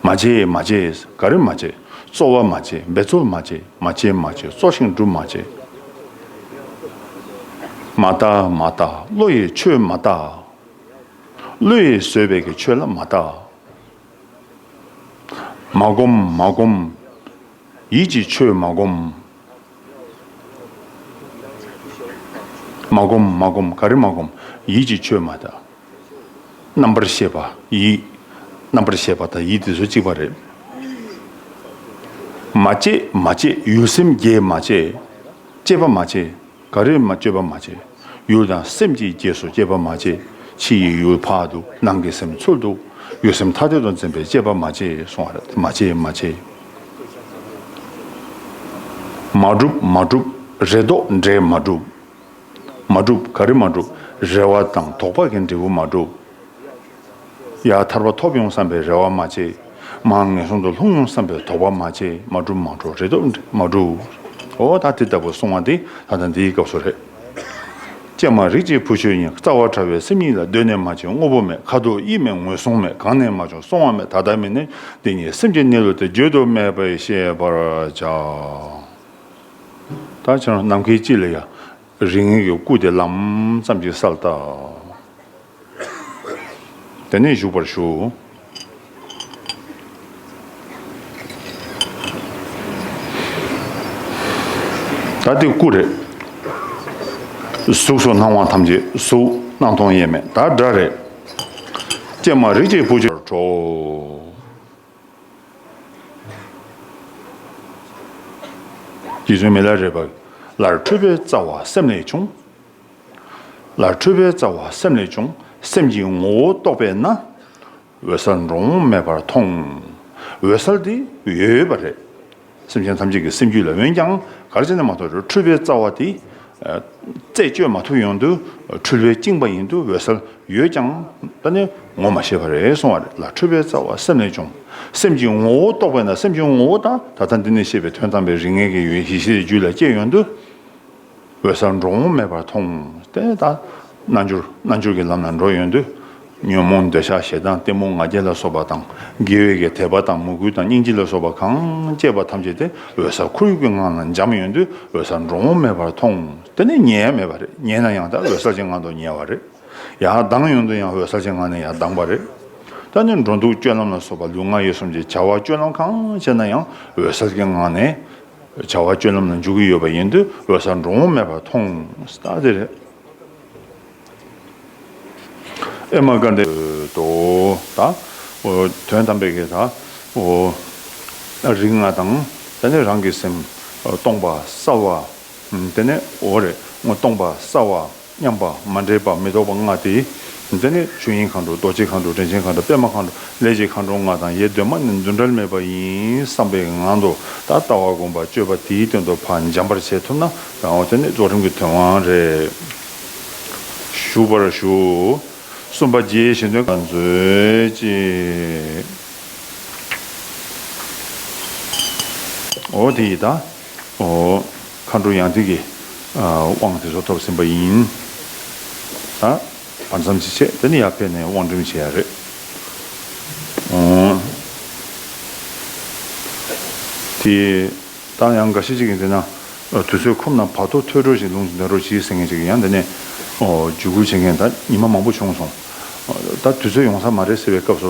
མ་བྱེད་མ་བྱེད་ག་རེ་མ་བྱེད། རྩོལ་བ་མ་བྱེད་འབད་རྩོལ་མ་བྱེད་མ་བྱེད་མ་བྱེད་རྩོལ་ཞིང་སྒྲུབ་མ་བྱེད། མ་བརྟག་མ་བརྟག་བློ་ཡིས་ཆོས་མ་བརྟག། བློ་ཡིས་བཟོད་པའི་གི་ཆོས་ལ་མ་བརྟག། མ་བསྒོམ་མ་བསྒོམ་ཡིད་ཀྱིས་ཆོས་མ་བསྒོམ། མ་བསྒོམ་མ་བསྒོམ་ག་རེ་མ་བསྒོམ་ཡིད་ཀྱིས་ཆོས་མ་བརྟག། རྣམ་པར་ཤེས་པ་ཡིད། རྣམ་པར་ཤེས་པ་དང་ཡིད་དེ་སོ་གཅིག་པ་རེད། མ་སྐྱེས་མ་སྐྱེས་ཡུལ་སེམས་བརྒྱད་མ་སྐྱེས། སྐྱེས་པ་མ་སྐྱེས་ག་རེ་མ་སྤྱོད་པ་མ་སྐྱེས། ཡུལ་དང་སེམས་ཀྱིས་སྐྱེས་སོ་སྐྱེས་པ་མ་སྐྱེས། ཕྱི་ཡི་ཡུལ་འཕགས་འདུག་ནང་གི་སེམས་ཚུལ་འདུག་ཡུལ་སེམས་ཐ་དད་དུ་འཛིན་པའི་སྐྱེས་པ་མ་སྐྱེས་གསུང་བ་རེད་མ་སྐྱེས་མ་སྐྱེས། མ་གྲུབ་མ་གྲུབ་རེ་དོགས་འདྲེས་མ་གྲུབ། མ་བསྒྲུབས་ག་རེ་མ་བསྒྲུབས་རེ་བ་དང་དོགས་པ་གི་འབྲས་བུ་མ་བསྒྲུབས། ཡ། ཐར་པ་ཐོབ་ཡོང་བསམ་པའི་རེ་བ་མ་བྱེད། མ། ངན་སོང་དུ་ལྷུང་ཡོང་བསམ་པའི་དོགས་པ་མ་བྱེད་མ་བསྒྲུབས་མ་བསྒྲུབས་རེ་དོགས་འབྲས་མ་བསྒྲུབས། འོ་ད་དེ་ལྟ་བུ་གསུང་བ་འདི་ད་ལྟ་འདིའི་སྐབས་སུ་རེད། ཀྱེ་མ་རིག་བྱེད་བུ་ཆོས་དབྱིངས་རྩ་བ་ཕྲ་བའི་སེམས་ཉིད་ལ་གདོད་ནས་མ་བྱས་དངོས་པོ་མེད་ཁ་དོག་དབྱིབས་མེད་ངོས་བཟུང་མེད་གང་ནས་མ་བྱུང་སོང་བ་མེད་ད་ལྟ་མེད་ནས་འདི་ཉིད་སེམས་ཀྱི་གནས་ལུགས་དེ་བརྗོད་དུ་མེད་པས་ཤེས་པར་བྱ། ད་ཕྱིར་ནམ་མཁའི་དཀྱིལ་ལ་ཡང། རིགས་ངན་གྱི་སྐུ་དེ་ལམ་ཙམ་གྱིས་སལ་བཏགས། དེ་ནས་བཞུགས་པར་ཞུ། ད་འདི་སྐུ་རེད། གཟུགས་སུ་སྣང་བ་ཐམས་ཅད་གཟུགས། སྣང་སྟོང་དབྱེར་མེད་དག་སྒྲ་རེད། ཀྱེ་མ་རིགས་ཀྱི་བུ། ཁྲོ། རྗེ་བཙུན་མི་ལ་རས་པ། ལར་འཕྲོས་པའི་རྩ་བ་སེམས་ལས་བྱུང། ལར་འཕྲོས་པའི་རྩ་བ་སེམས་ལས་བྱུང། སེམས་ཀྱི་ངོ་བོ་རྟོགས་པས་ན། འོད་གསལ་འགྲོ་འོང་མེད་པར་མཐོང། འོད་གསལ་འདི་འོད་འོད་པ་རེད། སེམས་ཅན་ཐམས་ཅད་ཀྱི་སེམས་རྒྱུད་ལ་འོན་ཀྱང་གར་བྱེད་ན་མ་ཐོགས་རེ་འཁྲུལ་པའི་རྩ་བ་དེ། རྩད་གཅོད་མ་ཐུབ་ཡོང་དུས་འཁྲུལ་བའི་བཅིངས་པ་ཡིན་དུ་འོད་གསལ་ཡོད་ཀྱང་ད་ནི་ངོ་མ་ཤེས་པ་རེད་སོང་བ་ལ་འཁྲུལ་པའི་རྩ་བ་སེམས་ལས་བྱུང་སེམས་ཀྱི་ངོ་བོ་རྟོགས་པས་ན་སེམས་ཀྱི་ངོ་བོ་དང་ད་ལྟ་འདི་ནས་བཤད་པའི་དོན་དམ་པའི་རིགས་ངེས་ཀྱི་ཡུལ་ཤེས་བྱའི་རྒྱུད་ལ་སྐྱེས་ཡོང་དུས། འོད་གསལ་འགྲོ་འོང་མེད་པར་མཐོང། དེ་ལྟར་རྣལ་འབྱོར་རྣལ་འབྱོར་གྱི་ལམ་ལ་འགྲོ་ཡོང་དུས། ཉོན་མོངས་འདོད་ཆགས་ཞེ་སྡང་གཏི་མུག་ང་རྒྱལ་ལ་སོགས་པ་དང། དགེ་བའི་གེགས་དད་པ་དང་མོས་གུས་དང་སྙིང་རྗེ་ལ་སོགས་པ་གང་སྐྱེས་པ་ཐམས་ཅད་དེ་འོད་གསལ་ཁོར་ཡུག་གི་ངང་ལ་འབྱམས་ཡོང་དུས་འོད་གསལ་འགྲོ་འོང་མེད་པར་མཐོང། དེ་ནི་ཉལ་ཡ་མེད་པ་རེད་ཉལ་ན་ཡང་ད་འོད་གསལ་གྱི་ངང་དུ་ཉལ་བ་རེད། ཡང་ལྡང་ཡོང་དུས་ཡང་འོད་གསལ་གྱི་ངང་ནས་ཡང་ལྡང་པ་རེད། ད་ནི་འགྲོ་འདུག་སྤྱོད་ལམ་ལ་སོགས་པ་ལུས་ངག་ཡིད་གསུམ་གྱི་བྱ་བ་སྤྱོད་ལམ་གང་བྱས་ན་ཡང་འོད་གསལ་གྱི་ངང་ནས། བྱ་བ་སྤྱོད་ལམ་ལ་འཇུག་གི་ཡོད་པ་ཡིན་དུས་ལོ་སར་འགྲོ་འོང་མེད་པར་མཐོང། ཨེ་མ་ཀ་འདི། དོ། དང། དོན་དམ་པའི་གེ་དང། རིགས་ལྔ་དང། དེ་ནས་རང་གི་སེམས། སྟོང་པ་སྲ་བ། དེ་ནས་འོ་རེ་སྟོང་པ་སྲ་བ། མཉམ་པ་མ་འདྲེས་པ་མི་རྟོག་པ་ལྔ་སྟེ། འདི་ནི་ཆོས་དབྱིངས་མཁའ་འགྲོ་རྡོ་རྗེ་མཁའ་འགྲོ་དྲིན་ཆེན་མཁའ་འགྲོ་པདྨ་མཁའ་འགྲོ་ལས་ཀྱི་མཁའ་འགྲོ་ལྔ་དང་ཡེ་གདོད་མ་ནི་འདུ་འབྲལ་མེད་པ་ཡིན་བསམ་པའི་ངང་དུ་ད་ལྟ་བ་བསྒོམ་པ་སྤྱོད་པ་དེའི་དོན་དུ་བག་འཇམ་པར་བྱེད་ཐུབ་ན་རང་དབང་དེ་ནི་རྫོགས་རིམ་གྱི་དོན་དབང་རེད། ཞུ་བར་ཞུ། གསུམ་པ་རྗེའི་གཞན་དོན་ག་ལ་མཛོད་ཅིག། འོ་དེ་ཡི་དྭ། མཁའ་འགྲོ་ཡང་ཏིག་གི་དབང་དེ་ཚོ་ཐོབ་ཟིན་པ་ཡིན། བར་མཚམས་ཅི་བྱས་དེ་ནི་ཡར་ཕེབས་ནས་དབང་སྒྲིམ་བྱས་ཡ་རེད། དེ་ལྟར་ཡང་འགའ་ཤས་ཅིག་གིས་འདི་ན་དུས་ཚོད་ཁོམ་ན་བར་དོ་ཐོས་གྲོལ་ཞིག་ལུང་ཞིག་འདོན་རོགས་གྱིས་ཟེར་མཁན་ཅིག་ཡང་འདི་ནས་རྒྱུད་སྐུལ་བྱེད་མཁན་ད་ཉི་མ་མང་པོ་བྱུང་སོང། ད་དུས་ཚོད་ཡོང་ས་མ་རེད་ཟེར་བའི་སྐབས་སུ་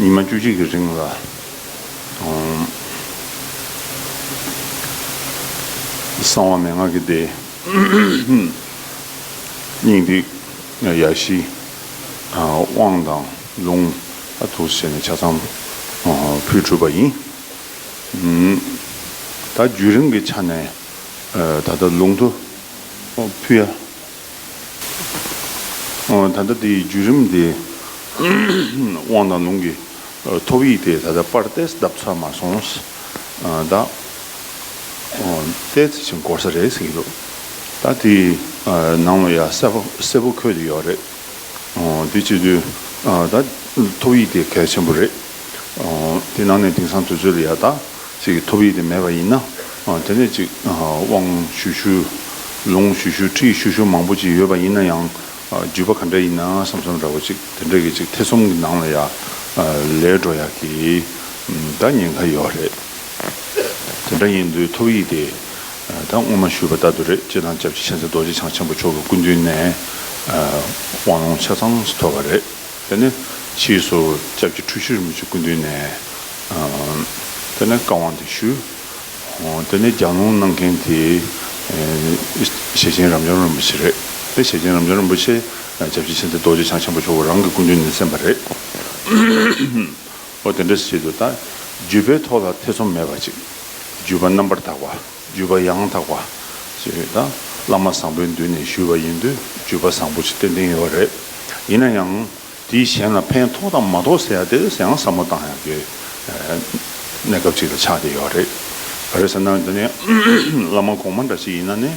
ཉི་མ་བཅུ་གཅིག་གི་རིང་ལ། གསང་བ་མན་ངག་གི་སྡེ། སྙིང་ཏིག་ཡ་བཞི། དབང་དང་ལུང། ཐུགས་སུ་བྱས་ནས་ཆ་ཚང། ཕུལ་གྲུབ་པ་ཡིན། ད་རྒྱུན་རིང་གི་ཆ་ནས། ད་ལྟ་ལུང་དུ། ཕུལ། ད་ལྟ་དེའི་བརྒྱུད་རིམ་དེ་དབང་དང་ལུང་གི་ཐོབ་ཡིག་དེ་ད་ལྟ་པར་ཏེས་བརྡབ་ཚར་མ་སོང་ད། ཏེ་ཚེ་ཆེན་འགོར་ས་རེད་ཟེར་གྱི་འདུག་ད་དེ་ནང་ལ་ཡ་གསལ་པོ་འཁོད་དེ་ཡོད་རེད། དེ་བྱེད་དུས་ད་ཐོབ་ཡིག་དེ་གལ་ཆེན་པོ་རེད། དེ་ནང་ནས་དེང་སང་དུས་ཚོད་ལ་ཡ་ད་ཚིག་གི་ཐོབ་ཡིག་དེ་མེད་པ་ཡིན་ན། དེ་ནས་ཅིག། དབང་ཞུ་ཞུ། ལུང་ཞུ་ཞུ་ཁྲིད་ཞུ་ཞུ་མང་པོ་ཅིག་ཡོད་པ་ཡིན་ན་ཡང། བརྒྱུད་པ་ག་འདྲ་ཡིན་ན་བསམ་བསམ་འདྲ་བོ་ཅིག་དེ་འདྲ་གི་ཅིག་ཐེ་ཚོམ་གི་ནང་ལ་ཡ། ལས་འགྲོ་ཡ་གི། ད་ཉེན་ཁ་ཡོད་རེད། དེ་འདྲ་ཡིན་དུས་ཐོབ་ཡིག་དེ། ད་སྔོན་མ་ཞུས་པ་ལྟ་དུ་རེད་ཅེས་དང་སྐྱབས་རྗེ་མཁྱེན་བརྩེ་རྡོ་རྗེ་འཆང་ཆེན་པོ་མཆོག་གི་སྐུ་མདུན་ནས། དབང་ལུང་ཆ་ཚང་ཞིག་ཐོབ་པ་རེད། དེ་ནས་ཕྱིའི་སོ་སྐྱབས་ཀྱི་ཁྲུས་གཞིར་མི་ཆུ་ཀུན་འདུས་ནས། དེ་ནས་བཀའ་དབང་དེ་ཞུས། དེ་ནས་རྒྱང་ལུང་གནང་མཁན་དེ་ཞེ་ཆེན་རབ་འབྱམས་རིན་པོ་ཆེ་རེད། དེ་ཞེ་ཆེན་རབ་འབྱམས་རིན་པོ་ཆེས་སྐྱབས་རྗེ་ཕྱིན་ཏེ་རྡོ་རྗེ་འཆང་ཆེན་པོ་མཆོག་གི་རང་གི་སྐུ་མདུན་ནས་གསན་པ་རེད། འོ་དེ་འདྲ་བྱེད་དུ་ད་རྒྱུད་པའི་ཐོག་ལ་ཐེ་ཚོམ་མེད་པ་ཅིག་རྒྱུད་པ་རྣམ་པར་དག་པ། བརྒྱུད་པ་ཡང་དག་པ་ཞེས་ཡོད་ན་བླ་མ་བཟང་པོའི་མདུན་ནས་ཞུས་པ་ཡིན་དུས་བརྒྱུད་པ་བཟང་པོ་ཞེས་སྟོན་གྱིན་ཡོད་པ་རེད། ཡིན་ན་ཡང་དེས་གཞན་ལ་ཕན་ཐོགས་དང་མ་ཐོགས་ཟེར་ཡག་དེ་ཡང་ཟབ་མོ་བཏང་ཡག་པའི་གནས་སྐབས་ཅིག་ལ་ཆགས་བསྡད་ཡོད་རེད། ག་རེ་ཟེར་ན་འདི་ནི་བླ་མ་གོང་མ་འདྲ་ཞིག་ཡིན་ན་ནི་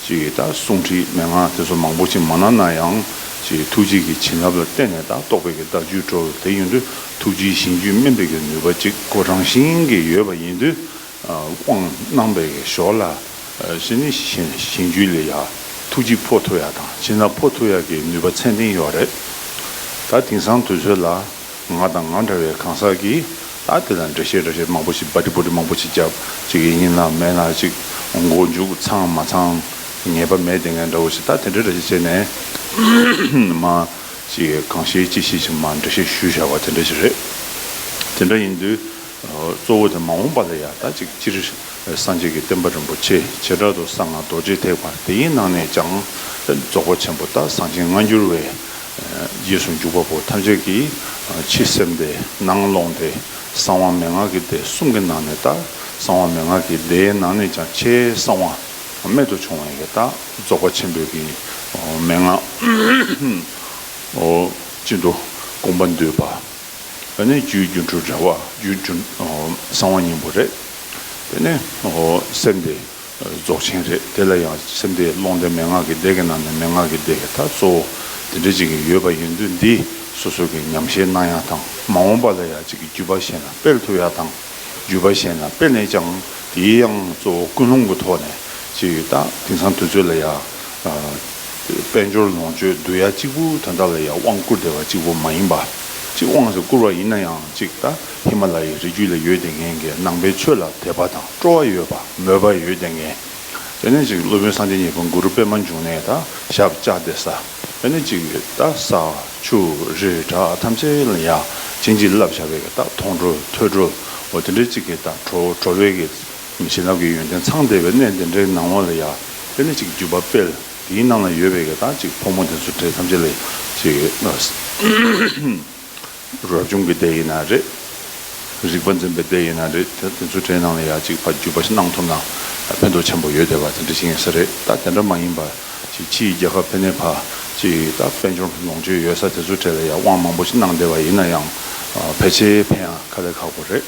ཅིག་ད་གསུང་ཁྲིད་མན་ངག་དེ་ཚོ་མང་པོ་ཅིག་མ་གནང་ན་ཡང་ཅིག་ཐུགས་རྗེ་གི་བྱིན་རླབས་ལ་བརྟེན་ནས་ད་རྟོགས་པའི་གི་བརྡ་བརྒྱུད་འགྲོ་བ་དེ་ཡིན་དུས་ཐུགས་རྗེའི་ཞིང་བརྒྱུད་སྨིན་པའི་གི་ནུས་པ་ཅིག་གོ་རང་བཞིན་གྱིས་ཡོད་པ་ཡིན་དུས། དབང་གནང་བའི་ཞོར་ལ། ཞི་ནི་ཞིང་བཅུའི་ལས་ཡག། ཐུགས་རྗེ་ཕོ་ཐུ་ཡག་དང་བྱིན་རླབས་ཕོ་ཐུ་ཡག་གི་ནུས་པ་མཚན་ལྡན་ཡོད་རེད། ད་དེང་སང་དུས་ཚོད་ལ། ང་དང་ང་འདྲ་བའི་གང་ཟག་གིས་ད་དེ་ལ་འགྲེལ་བཤད་འགྲེལ་བཤད་མང་པོ་ཞིག་སྦ་དྲི་པོ་དྲི་མང་པོ་ཞིག་རྒྱབ་ཅིག་ཡིན་ཡིན་ལ་མེད་ལ་ཅིག་མགོ་མཇུག་ཚང་མ་ཚང་ངེས་པ་མེད་དེ་ངས་འདྲ་བོ་ཞིག་ད་དེ་འདྲ་འདྲ་ཞིག་བྱས་ནས་མ་ཅིག་གང་ཤེས་ཅི་ཤེས་ཞིག་མ་འགྲེལ་བཤད་ཞུ་བཞག་པ་དེ་འདྲ་ཞིག་རེད། དེ་འདྲ་ཡིན་དུས། གཙོ་བོ་དེ་མ་འོངས་པ་ལ་ཡང་ད་ཅིག་སྤྱིར་སངས་རྒྱས་ཀྱི་བསྟན་པ་རིན་པོ་ཆེ་བྱེ་བྲག་ཏུ་གསང་སྔགས་རྡོ་རྗེ་ཐེག་པ་དེའི་ནང་ནས་ཀྱང་རྫོགས་པ་ཆེན་པོ་ལྟར་གསང་ཆེན་སྔ་འགྱུར་བའི་རྗེས་སུ་འཇུག་པ་པོ་ཐམས་ཅད་ཀྱིས་ཕྱི་སེམས་སྡེ་ནང་ཀློང་སྡེ་གསང་བ་མན་ངག་གི་སྡེ་གསུམ་གྱི་ནང་ནས་ལྟར་གསང་བ་མན་ངག་གི་སྡེའི་ནང་ནས་ཀྱང་ཆེས་གསང་བ་རྨད་དུ་བྱུང་བ་ཡང་ལྟར་རྫོགས་པ་ཆེན་པོའི་གྱི་མན་ངག་ཅན་དུ་དགོངས་པ་འདུས་པ། བས་ནས་རྒྱུའི་སྒྱུ་འཕྲུལ་རེ་བ་རྒྱུའི་རྒྱུ། གསང་བ་སྙིང་པོ་རེད། བས་ནས། སེམས་དེ་རྫོགས་ཆེན་རེད། དེ་ལ་ཡང་སེམས་དེ་ཀློང་དེ་མན་ངག་གི་སྡེ་གི་ནང་ནས་མན་ངག་གི་སྡེ་ད་གཙོ་བོ་དེ་འདྲ་གཅིག་ཡོད་པ་ཡིན་དུས་འདིས་སོ་སོ་གི་ཉམས་ཤེས་གནང་ཡག་དང་མ་འོངས་པ་ལ་ཡང་གཅིག་གི་བརྒྱུད་པ་བཤད་ན་སྤེལ་ཐུབ་ཡག་དང། བརྒྱུད་པ་གཞན་ལ་སྤེལ་ནས་ཀྱང་དེའི་དབྱངས་གཙོ་བོ་ཀུན་སློང་གི་ཐོག་ནས་བྱས་ཡོད་ད་དེང་སང་དུས་ཚོད་ལ་ཡང་དཔལ་འབྱོར་ལོངས་སྤྱོད་བསྡུ་ཡ་གཅིག་པུ་དོན་དག་ལ་ཡང་དབང་བསྐུར་བདེ་བ་གཅིག་པོ་མ་ཡིན་པ་གཅིག་དབང་ཟེར་བསྐུར་བ་ཡིན་ན་ཡང་གཅིག་ད་ཧི་མ་ལ་ཡའི་རི་རྒྱུད་ལ་ཡོད་དེ་ངན་གྱི་ནང་པའི་ཆོས་ལ་དད་པ་དང་སྤྲོ་བ་ཡོད་པ་མོས་པ་ཡོད་དེ་ངན། དེ་ནས་ཅིག་སློབ་དཔོན་སངས་རྒྱས་གཉིས་པོ་གུ་རུ་པདྨ་འབྱུང་གནས་ད་ཞབས་བཅགས་ཏེ་ས། ཨ་ནི་གཅིག་གིས་རྟ་ཟ་ཆུ་རི་བྲག་ཐམས་ཅད་ལ་ཡང་བྱིན་གྱིས་བརླབས་བྱ་བའི་རྟགས་མཐོང་གྲོལ་ཐོས་གྲོལ་འོ་དེ་འདྲའི་གཅིག་གི་རྟགས་གྲོལ་གྲོལ་བའི་གི་བྱིན་རླབས་ཀྱི་ཡོན་ཏན་ཚང་བདེ་བའི་གནས་འདི་འདྲའི་ནང་ངོ་ལ་ཡང་ཨ་ནི་གཅིག་བརྒྱུད་པ་དཔལ་དེའི་ནང་ལ་ཡོད་པའི་གི་རྟགས་གཅིག་ཕོ་མོ་དེ་ཚོ་འདྲེ་ཐམས་ཅད་ལ་ཡང་གཅིག་གི། རབ་བྱུང་གི་སྡེ་ཡིན་ན་རེད། རིག་པ་འཛིན་པའི་སྡེ་ཡིན་ན་རེད། དེ་དེ་ཚོའི་གྲས་ནང་ལ་ཡང་གཅིག་ཕ་རྒྱུད་པ་ཞིག་གནང་ཐུབ་ན་ཕན་ཐོགས་ཆེན་པོ་ཡོད་དེ་བ་དེ་འདྲ་ཞིག་ཡིན་ས་རེད་ད་དེ་འདྲ་མ་ཡིན་པར་ཅིག་ཕྱི་ཡི་རྒྱལ་ཁབ་ཕན་ནེ་ཕ་ཅིག་ད་དཔལ་འབྱོར་ལོངས་སྤྱོད་ཡོད་ས་དེ་ཚོའི་གྲས་ལ་ཡང་དབང་མང་པོ་ཞིག་གནང་བསྡད་པ་ཡིན་ན་ཡང་ཕལ་ཆེ་ཕན་ཡང་ཁ་ལས་ཁག་པོ་རེད།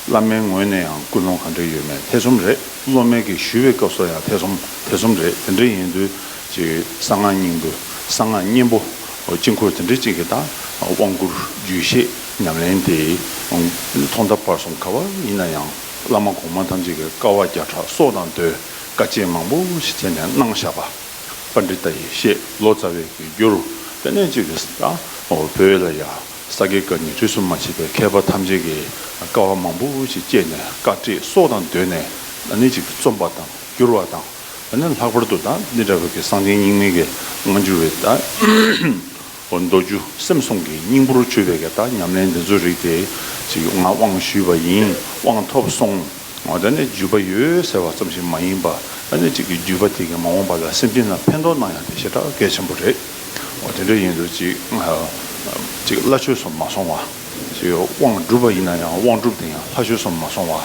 བླ་མའི་ངོས་ནས་ཡང་ཀུན་སློང་གང་འདྲ་ཡོད་མེད་ཐེ་ཚོམ་རེད་སློབ་མའི་གི་ཞུ་བའི་སྐབས་སོགས་ཡང་ཐེ་ཚོམ་ཐེ་ཚོམ་རེད་དེ་འདྲ་ཡིན་དུས་ཅིག་གསང་སྔགས་སྙིང་པོ་གསང་སྔགས་གཉན་པོ། དཀྱིལ་འཁོར་དེ་འདྲ་གཅིག་གི་དང་དབང་བསྐུར་རྒྱུད་བཤད་ཉམས་ལེན་དེ་ཐོག་མཐའ་བར་གསུམ་ག་བ་ཡིན་ན་ཡང་བླ་མ་གོང་མ་ཐམས་ཅད་ཀྱིས་དཀའ་བ་བརྒྱ་ཕྲག་སོགས་དང་ཟློས་དཀའ་སྤྱད་མང་པོ་ཞིག་བྱས་ནས་གནང་བཞག་པ། པ་འདི་ལྟ་ཡི་བཤད་ལོ་ཙཱ་བས་གི་རྒྱུ་རུ་དཔེ་གནད་ཅིག་གིས་དང་བོ་ལ་ཡང་ས་དགེ་བཀའ་ཉི་ཁྲི་སུ་མ་མཆིས་པའི་མཁས་པ་ཐམས་ཅད་ཀྱིས་དཀའ་བ་མང་པོ་ཞིག་སྤྱད་ནས་བཀའ་ཁྲིད་སོགས་དང་ཟློས་ནས་གནད་ཅིག་གིས་རྩོམ་པ་དང་བསྒྱུར་བ་དང། ཡང་ན་ལྷག་པར་དུ་དང་ནི་དགྲ་བགེགས་ཀྱི་གསང་ཆེན་སྙིང་མེད་ཀྱི་སྔ་འགྱུར་བའི་དང། མདོ་རྒྱུད་སེམས་གསུམ་གྱི་སྙིང་པོར་བཅོས་པའི་གདངས་ཉམས་ལེན་འདི་ཚོའི་རིགས་དེ་ཞིག་ཡོད་ང་དབང་ཞུས་པ་ཡིན་དབང་ཐོབ་སོང་ང་ད་ནི་བརྒྱུད་པ་ཡོད་ཟེར་བ་ཙམ་ཞིག་མ་ཡིན་པ་ད་ནི་ཅིག་གིས་བརྒྱུད་པ་དེ་གིས་མ་འོངས་པ་ལ་སེམས་ཅན་ལ་ཕན་ཐོགས་གནང་ཡང་དེ་ཞེ་དྲག་གལ་ཆེན་པོ་རེད་དེ་འདྲ་ཡིན་དུས་ཅིག་ཅིག་བླ་ཆོས་སུ་མ་སོང་བ། ཞེས་དབང་བསྒྲུབ་པ་ཡིན་ན་ཡང་དབང་བསྒྲུབ་དེ་ཡང་ལྷ་ཆོས་སུ་མ་སོང་བ།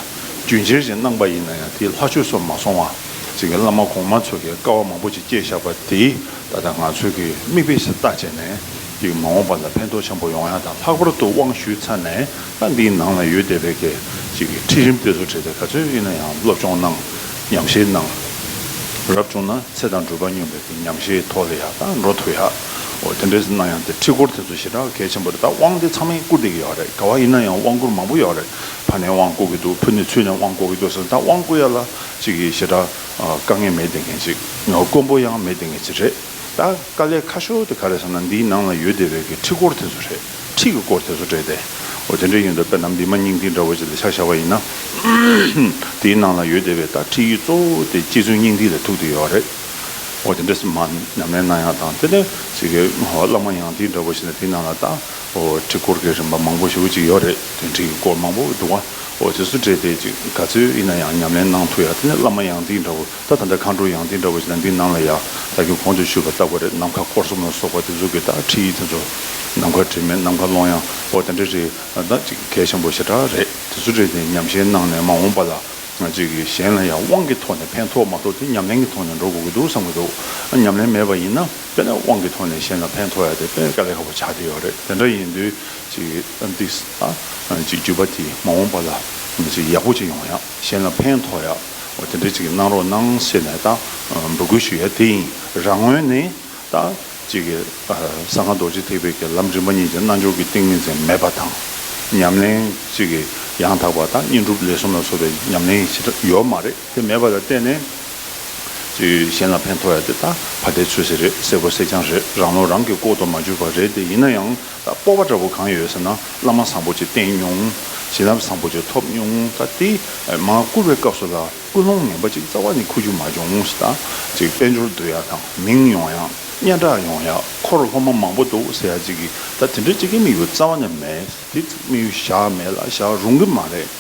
རྒྱུན་ཁྱེར་ཞིང་གནང་པ་ཡིན་ན་ཡང་དེ་ལྷ་ཆོས་སུ་མ་སོང་བ། ཅེས་བླ་མ་གོང་མ་ཚོ་གི་དཀའ་བ་མང་པོ་ཅིག་བསྐྱེད་བཞག་པ་དེ་ད་ལྟ་ང་ཚོས་ཀྱི་མིག་དཔེ་ཞིག་བལྟ་བྱས་ནས་ཀྱི་མ་འོངས་པ་ལ་ཕན་ཐོགས་ཆེན་པོ་ཡོང་ཡ་དང་ལྷག་པར་དུ་དབང་ཞུས་ཚར་ནས་ལྷ་འདིའི་ནང་ལ་ཡོད་བསྡད་པའི་གི་ཅིག་གི་ཁྲིད་རིམ་དེ་ཚོ་བྲིས་ཏེ་ག་ཚོད་ཡིན་ན་ཡང་སློབ་སྦྱོང་གནང་ཉམས་བཞེས་གནང་རབ་བྱུང་ན་ཚེ་དང་འགྲུལ་པ་སྙོམས་པའི་གི་ཉམས་བཞེས་ཐོག་ལ་ཡག་དང་འགྲོ་ཐུབ་ཡ། འོ་དེ་འདྲས་ན་ཡང་དེ་ཁྲིད་སྐོར་དེ་ཚོ་ཞེ་དྲག་གལ་ཆེན་པོ་རེད་ད་དབང་དེ་ཚང་མས་བསྐུར་བསྡད་ཀྱི་ཡོད་རེད་ག་བ་ཡིན་ན་ཡང་དབང་བསྐུར་མང་པོ་ཡོད་རེད་ཕ་ནས་དབང་བསྐུར་གྱི་འདུག་བུ་ནས་ཚུལ་ནས་དབང་བསྐུར་གྱི་འདུག་ཟེར་ན་ད་དབང་བསྐུར་ཡ་ལ་ཅིག་གིས་ཞེ་དྲག་དཀའ་ངལ་མེད་བསྡད་མཁན་ཅིག་དཀོན་པོ་ཡང་མེད་བསྡད་མཁན་ཅིག་རེད་ད་དཀའ་ལས་ཁ་ཤོ་དེ་ག་རེད་ཟེར་ན་འདིའི་ནང་ལ་ཡོད་བསྡད་པའི་གི་ཁྲིད་སྐོར་དེ་ཚོ་རེད་ཁྲིད་ཀྱི་སྐོར་དེ་ཚོ་རེད་དེ་འོ་དེ་འདྲས་ཡིན་འདུག་དཔེར་ན་བི་མ་སྙིང་ཐིག་འདྲ་བོ་ཅིག་ལ་ཆ་བཞག་པ་ཡིན་ན་དེའི་ནང་ལ་ཡོད་བསྡད་པའི་ད་ཁྲིད་ཡིག་གཙོ་བོ་དེ་གཅིག་མཚོན་སྙིང་ཐིག་ལ་ཐུག་བསྡད་ཡོད་རེད། འོ་དེ་འདྲ་སེམས་མ་ཉམས་ལེན་གནང་ཡག་དང་དེ་ལས་ཅིག་གི་བླ་མ་ཡང་དེ་འདྲ་བོ་ཞིག་ན་དེ་ནང་ལ་ད་འོ་ཁྲི་སྐོར་གི་རིམ་པ་མང་པོ་ཞིག་བོ་ཅིག་ཡོད་རེད་དེ་འདྲི་གི་སྐོར་མང་པོ་འདུག་བ་འོ་དེ་ཚོ་འདྲེས་ཏེ་ཅིག་ག་ཚོད་ཡིན་ན་ཡང་ཉམས་ལེན་གནང་ཐུག་ཡག་དེ་ནས་བླ་མ་ཡང་དེ་འདྲ་བོ་ད་ད་འདྲ་མཁའ་འགྲོ་ཡང་དེ་འདྲ་བོ་ཞིག་ན་འདི་ནང་ལ་ཡག་ད་གི་གོང་དུ་ཞུས་པ་ལྟ་བུ་རེད་ནམ་མཁའ་སྐོར་གསུམ་ལ་སོགས་པ་དེ་ཚོ་གི་ད་ཁྲིད་ཡིག་དེ་ཚོ་ནམ་མཁའ་དྲི་མེད་ནམ་མཁའ་ཀློང་ཡངས་འོ་དེ་འདྲ་རེད་ད་ཅིག་གལ་ཆེན་པོ་ཞེ་དྲག་རེད་དེ་ཚོ་འདྲེས་ཏེ་ཉམས་ཞན་གནང་ནས་མ་འོངས་པ་ལ་ང་གཅིག་གིས་གཞན་ལ་ཡང་དབང་གི་ཐོག་ནས་ཕན་ཐོགས་མ་ཐོགས་དེ་ཉམས་ལེན་གྱི་ཐོག་ནས་འགྲོ་དགོས་ཀྱི་འདུག་བསམ་གྱི་འདུག་ཉམས་ལེན་མེད་པ་ཡིན་ན་དཔེར་ན་དབང་གི་ཐོག་ནས་གཞན་ལ་ཕན་ཐོགས་ཡ་དེ་དཔེར་དཀའ་ལས་ཁག་པོ་ཆགས་བསྡད་ཡོད་རེད་དེ་འདྲ་ཡིན་དུས་གཅིག་གིས་འདིས་གཅིག་བརྒྱུད་པ་དེས་མ་འོངས་པ་ལ་མི་ཚེ་ཡག་པོ་ཅིག་ཡོང་ཡང་གཞན་ལ་ཕན་ཐོགས་ཡ་འོ་དེ་འདྲ་གཅིག་གིས་གནང་རོགས་གནང་ཟེར་ནས་ད་འབོད་སྐུལ་ཞུ་ཡ་དེ་ཡིན་རང་ངོས་ནས་དང། གཅིག་གིས་ས་སྔགས་རྡོ་རྗེ་ཐེག་པའི་དགེ་ལམ་རིམ་པ་གཉིས་ཀྱི་རྣལ་འབྱོར་གྱི་ཏིང་ངེ་འཛིན་མེད་པ་དང། ཉམས་ལེན་གཅིག་གིས་ཡང་དག་པ་དང་བསྙེན་སྒྲུབ་ལས་གསུམ་ལ་སོགས་པའི་ཉམས་ལེན་གྱི་བྱེ་བྲག་ཡོད་མ་རེད་དེ་མེད་པ་ལ་བརྟེན་ནས། ཅིག་གཞན་ལ་ཕན་ཐོགས་ཡ་དེ་དང་བ་དེ་ཆོས་ཟེར་རེད་སེར་པོ་སེར་རྐྱང་རེད་རང་བློ་རང་གིས་ལྐོག་ཏུ་མ་གྱུར་པ་རེད་དེ་ཡིན་ན་ཡང་ད་སྤོབས་པ་འདྲ་པོ་གང་ཡོད་ཟེར་ན་བླ་མ་བཟང་པོ་ཅིག་བསྟེན་མྱོང་བྱིན་རླབས་བཟང་པོ་ཅིག་ཐོབ་མྱོང་ད་དེས་མ་བསྐུར་བའི་སྐབས་སུ་ལ་ཀུན་སློང་ངན་པ་གཅིག་རྩ་བ་ནས་ཁུ་བྱུག་མ་འབྱུང་ངོ་ཞེས་དང། དཔལ་འབྱོར་བསྡུ་ཡག་དང་མིང་ཡོང་ཡག་སྙན་གྲགས་ཡོང་ཡག་ཁོ་རུ་སློབ་མ་མང་པོ་འདུག་ཟེར་ཡག་གཅིག་གིས་ད་དེ་འདྲ་གཅིག་གི་དམིགས་ཡུལ་རྩ་བ་ནས་མེད་དེ་དམིགས་ཡུལ་བཞག་མེད་ལ་བཞག་རུང་གི་མ་རེད།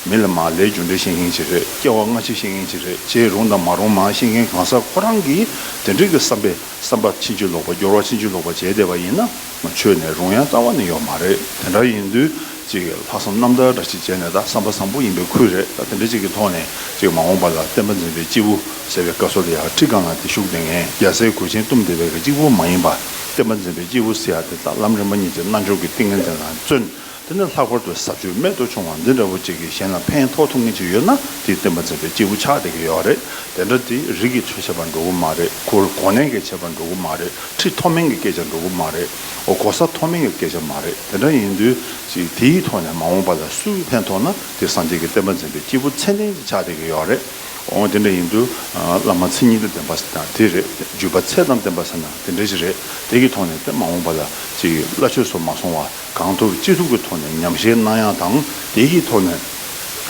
མི་ལ་མ་ལས་རྒྱུ་འབྲས་ཤེས་མཁན་གཅིག་རེད་སྐྱེ་བ་སྔ་ཕྱི་ཤེས་མཁན་གཅིག་རེད་བྱས་རུང་དང་མ་རུང་མ་ཤེས་མཁན་གང་ཟག་ཁོ་རང་གིས་དེ་འདྲའི་གི་བསམ་པས་བསམ་པ་ཕྱིན་ཅི་ལོག་པ་སྐྱོར་བ་ཕྱིན་ཅི་ལོག་པ་བྱས་བསྡད་པ་ཡིན་ན། ཆོས་ནས་རུང་ཡང་རྩ་བ་ནས་ཡོད་མ་རེད་དེ་འདྲ་ཡིན་དུས་ཅིག་ལྷག་བསམ་རྣམ་དག་འདྲ་ཞིག་བྱས་ནས་ད་བསམ་པ་བཟང་པོ་ཡིན་པའི་ཁུལ་རེད་ད་དེ་འདྲ་ཅིག་གི་ཐོག་ནས་ཅིག་མ་འོངས་པ་ལ་བསྟན་པ་འཛིན་པའི་སྐྱེས་བུ་ཟེར་བའི་སྐབས་སོ་ལ་ཡ་ཁྲི་སྒང་ལ་དེ་ཤུགས་ལྡན་ངན་རྒྱ་སེ་གོས་ཆེན་གཏུམ་དེ་བས་ཀྱི་གཅིག་པུ་མ་ཡིན་པ་བསྟན་པ་འཛིན་པའི་སྐྱེས་བུ་ཟེར་ཡ་དེ་ད་ལམ་རིམ་པ་གཉིས་ཀྱི་རྣལ་འབྱོར་གྱི་ཏིང་ངེ་འཛིན་ལ་བརྩོན་དེ་ནས་ལྷག་པར་དུ་ཟབ་ཆོས་རྨད་དུ་བྱུང་བ་འདི་འདྲ་བོ་ཅིག་གིས་གཞན་ལ་ཕན་ཐོགས་ཐུབ་ངེས་ཅིག་ཡོད་ན་དེའི་བསྟན་པ་འཛིན་པའི་སྐྱེས་བུ་ཆགས་བསྡད་ཀྱི་ཡོད་རེད་དེ་འདྲ་དེ་རིགས་ཀྱི་ཆོས་བྱེད་པར་འགྲོ་གི་མ་རེད་གོ་གོ་ནན་གྱི་བྱེད་པར་འགྲོ་གི་མ་རེད་ཁྲི་མཐོ་དམན་གྱི་སྐད་ཆར་འགྲོ་གི་མ་རེད་འོ་གོ་ས་མཐོ་དམན་གྱི་སྐད་ཆ་མ་རེད་དེ་འདྲ་ཡིན་དུས་ཅིག་དེའི་ཐོག་ནས་མ་འོངས་པ་ལ་སུས་ཕན་ཐོགས་ན་དེ་སངས་རྒྱས་ཀྱི་བསྟན་པ་འཛིན་པའི་སྐྱེས་བུ་ཚད་ལྡན་ཅིག་ཆགས་བསྡད་ཀྱི་ཡོད་རེད་འོ་དེ་འདྲ་ཡིན་དུས་བླ་མ་མཚན་ཉིད་དང་ལྡན་པ་ཟེར་ན་དེ་རེད་བརྒྱུད་པ་ཚད་དང་ལྡན་པ་ཟེར་ན་དེ་འདྲ་ཞིག་རེད་དེ་གྱི་ཐོག་ནས་དེ་མ་འོངས་པ་ལ་ཅིག་བླ་ཆོས་སུ་མ་སོང་བ། གང་ཐུབ་ཅི་ཐུབ་ཀྱི་ཐོག་ནས་ཉམས་བཞེས་གནང་ཡག་དང་དེ་ཡི་ཐོག་ནས་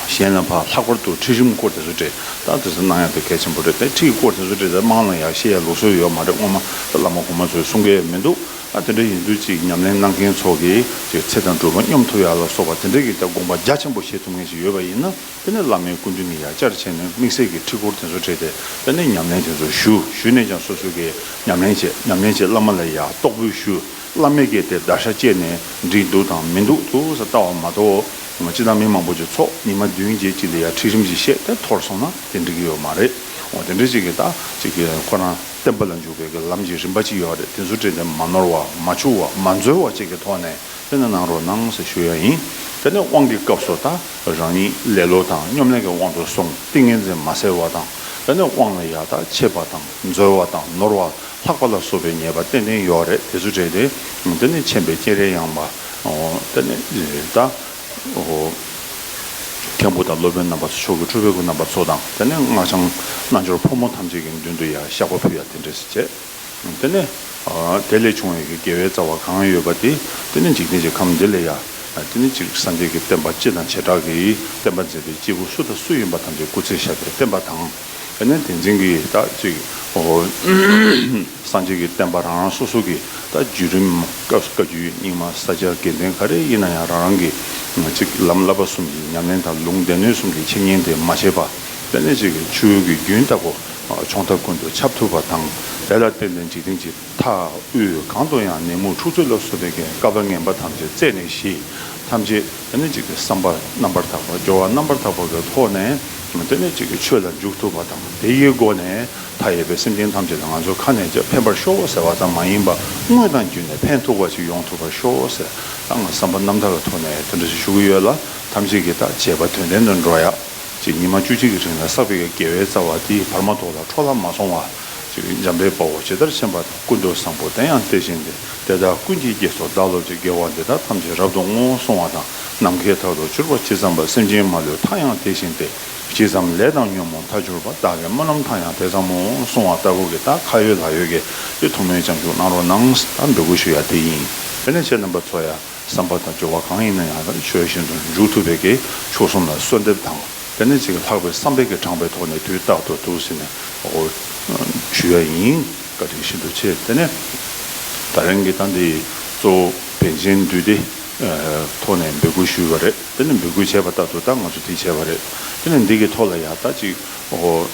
གཞན་ལ་ཕར་ལྷག་པར་དུ་ཁྲིད་རིམ་སྐོར་དེ་ཚོ་འབྲེལ་བརྡ་དེ་ཚོ་གནང་ཡག་དེ་གལ་ཆེན་པོ་རེད་དེ་ཁྲིད་སྐོར་དེ་ཚོ་འབྲེལ་བརྡ་གནང་ན་ཡག་བཤད་ཡག་ལུགས་སྲོལ་ཡོད་མ་རེད་སྔོན་མ་ད་བླ་མ་གོང་མ་ཚོས་གསུང་སྐད་མི་འདུག་ཨ་དེ་འདྲ་ཡིན་དུས་ཅིག་ཉམས་ལེན་གནང་མཁན་ཚོ་གིས་ཅིག་ཚེ་དང་སྒྲུབ་པ་སྙོམས་ཐུབ་ཡག་ལ་སོགས་པ་དེ་འདྲ་གི་ད་དགོངས་པ་རྒྱ་ཆེན་པོ་བཞེས་ཐུབ་མཁན་ཞིག་ཡོད་པ་ཡིན་ན་དེ་ནས་བླ་མའི་སྐུ་མདུན་གྱིས་ཡག་བསྐྱར་བྱས་ནས་དམིགས་བསལ་གྱི་ཁྲིད་སྐོར་དེ་ཚོ་འབྲེལ་ཏེ་དེ་ནས་ཉམས་ལེན་དེ་ཚོ་ཞུ་ཞུས་ནས་ཀྱང་སོ་སོ་གིས་ཉམས་ལེན་བྱེད་ཉམས་ལེན་བྱེད་བླ་མ་ལ་ཡག་རྟོགས་འབུལ་ཞུ། བླ་མས་གལ་ཏེ་བརྡར་ཤ་བཅད་ནས་འགྲིག་འདུག་དང་མི་འདུག་ཐུག་ས་ལྟ་བ་མ་གཏོགས། སྤྱི་དང་མི་མང་པོ་ཅིག་ཚོགས་ཉི་མ་བདུན་བརྒྱད་གཅིག་ལ་ཡར་ཁྲིད་རིམ་གྱིས་བཤད་དེ་འཐོར་སོང་ན་དེ་འགྲིག་གི་ཡོད་མ་རེད། འོ་དེ་འདྲ་ཅིག་གིས་ད་ཅིག་གིས་ཁོ་རང་བསྟན་པ་ལ་འཇུག་པའི་གི་ལམ་གྱི་རིམ་པ་ཅིག་ཡོད་རེད་དེ་ཚོ་བྲིས་ཏེ་མ་ནོར་བ་མ་འཆུག་བ་མ་འཛོལ་བ་བཅས་ཀྱི་ཐོག་ནས་དཔེ་ན་གནང་རོགས་གནང་ཞེས་ཞུ་ཡ་ཡིན། དེ་ནས་དབང་གི་སྐབས་སུ་ད་རང་ཉིད་ལེ་ལོ་དང་སྙོམ་ལེན་གྱི་དབང་དུ་སོང་ཏིང་ངེ་འཛིན་མ་གསལ་བ་དང་དེ་ནས་དབང་ལ་ཡར་ད་ཆད་པ་དང་འཛོལ་བ་དང་ནོར་བ། ལྷག་པ་ལ་སོགས་པའི་ཉེས་པ་གཏན་གཏན་ཡོག་རེད་དེ་ཚོ་བྲལ་ཏེ་འདི་ནི་མཁྱེན་པའི་སྤྱན་རས་ཡངས་པ་འདི་ནི་ད་མཁན་པོ་དང་སློབ་དཔོན་རྣམ་པ་ཚོ་མཆོག་གི་ཁྲོ་བོའི་སྐུ་རྣམ་པ་ཚོ་དང་དེ་ནས་སྔགས་འཆང་རྣལ་འབྱོར་ཕོ་མོ་ཐམས་ཅད་ཀྱི་མདུན་དུ་ཡང་བཤགས་པ་ཕུལ་ཡང་དེ་འདྲས་སུ་བྱས་དེ་ནས་དེ་ལས་བྱུང་བའི་དགེ་བའི་རྩ་བ་གང་ཡོད་པ་དེ་དེ་ནི་འཇིག་རྟེན་གྱི་ཁམས་འདི་ལས་ཡང་དེ་ནི་གཅིག་སངས་རྒྱས་ཀྱི་བསྟན་པ་སྤྱི་དང་བྱེ་བྲག་གི་བསྟན་པ་མཛད་པའི་སྐྱེས་བུ་སུ་དང་སུ་ཡིན་པ་ཐམས་ཅད་སྐུ་ཚེ་ཞབས་པད་བརྟན་པ་དང། དེ་ནས་དེ་འཛིན་གྱིས་དག་ཅིག་གོ། སངས་རྒྱས་ཀྱི་བསྟན་པ་རང་རང་སོ་སོ་གྱི་ད་བརྒྱུད་རིམ་སྐབས་སུ་བཀའ་བརྒྱུད་རྙིང་མ་ས་སྐྱ་དགེ་ལྡན་ག་རེ་ཡིན་ན་ཡང་རང་རང་གི་ཚིག་ལམ་བསླབ་པ་གསུམ་གྱི་ཉམས་ལེན་དང་ལུང་བསྟན་ནུས་གསུམ་གྱི་འཆད་ཉན་དེ་མ་བྱས་པ་དཔེ་ལེན་བྱེད་ཀྱི་ཆུ་བོའི་གི་རྒྱུན་ལྟ་བུ་ཕྱོགས་མཐའ་ཀུན་ཏུ་ཁྱབ་ཐུབ་པ་དང་དེ་ལ་བརྟེན་ནས་འཇིག་རྟེན་གྱི། མཐའ་དབུས་གང་དུ་ཡང་ནད་མུག་འཁྲུག་རྩོད་སླར་གསོ་བད་ཀན་ཀ་བ་ངན་པ་ཐམས་ཅད་རྩད་ནས་ཞི། ཐམས་ཅད་སྟན་གཅིག་གི་བསམ་པར་རྣམ་པར་དག་པ་སྦྱོར་བ་རྣམ་པར་དག་པ་བའི་ཐོག་ནས་སྟན་གཅིག་གི་ཆོས་ལ་འཇུག་ཐུབ་པ་དང་དེ་ཡི་སྒོ་ནས་མཐའ་ཡས་པའི་སེམས་ཅན་ཐམས་ཅད་ལ་ང་ཚོ་ཁ་ནས་ཕན་པར་ཤོག་ཟེར་བ་ཙམ་མ་ཡིན་པ་དངོས་དང་བརྒྱུད་ནས་ཕན་ཐོགས་པ་ཞིག་ཡོང་ཐུབ་པར་ཤོག་ཟེར་ད་ང་བསམ་པ་རྣམ་དག་གི་ཐོག་ནས་དེ་འདྲ་ཞིག་ཞུ་གི་ཡོད་ལ་ཐམས་ཅད་ཀྱི་ད་བྱས་པ་དོན་ལྡན་དུ་འགྲོ་ཡག་ཅེས་ཉི་མ་བཅུ་གཅིག་གི་རིང་ལ་བསགས་པའི་དགེ་བའི་རྩ་བ་དེ་བར་མ་དོ་ལ་འཕྲོ་བརླག་མ་སོང་བ། འཇམ་དཔལ་དཔའ་བོ་ཇི་ལྟར་མཁྱེན་པ་དང་སྐུ་མདོག་བཟང་པོ་དེ་ཡང་དེ་བཞིན་ཏེ་དེ་དག་ཀུན་གྱིས་དགྱེས་སོ་བདག་སློབ་ཀྱི་དགེ་བ་འདི་དག་ཐམས་ཅད་རབ་ཏུ་བསྔོ་བར་གསུང་བ་དང་ནམ་མཁའི་མཐའ་རུ་གྱུར་པ་ཇི་ཙམ་པ་སེམས་ཅན་མ་ལུས་མཐའ་ཡང་དེ་བཞིན་ཏེ་ཇི་ཙམ་ལས་དང་ཉོན་མོངས་མཐའ་གྱུར་པ་བདག་གི་སྨོན་ལམ་མཐའ་ཡང་དེ་ཙམ་མོ་གསུང་བ་ལྟ་བུ་གྱི་རྟགས་ཁ་ཡོད་ལག་ཡོད་ཀྱི་ཐུགས་མོས་བྱང་ཆུབ་གནང་རོགས་གནང་ད་འབོད་སྐུལ་ཞུ་ཡ་དེ་ཡིན། དེ་ནས་ཁྱེད་རྣམ་པ་ཚོ་ཡ། བསམ་པ་དང་སྦྱོར་བ་གང་ཡིན་ན་ཡང་ཆོས་བཞིན་དུ་འཇུག་ཐུབ་པའི་གེགས་ཆོས་གསུམ་ལ་གསོལ་འདེབས་དང་དེ་ནས་ཅིག་ལྷག་པའི་བསམ་པས་གེགས་དྲངས་པའི་ཐོག་ནས་དུས་རྟག་ཏུ་ཐུགས་ཟིན་ནས་འོ་ཞུ་ཡ་ཡིན་བཀའ་དྲིན་ཤིན་ཏུ་ཆེ་དེ་ནས་ད་རིང་གི་ད་འདི་གཙོ་བོ་བན་ཆེན་འདུས་སྡེ་ཐོག་ནས་འབོད་སྐུལ་ཞུས་པ་རེད་དེ་ནས་འབོད་སྐུལ་བྱས་པ་ལྟར་དུ་ད་ང་ཚོ་དེ་བྱས་པ་རེད་དེ་ནས་འདི་གི་ཐོག་ལ་ཡང་ད་ཅིག་འོ་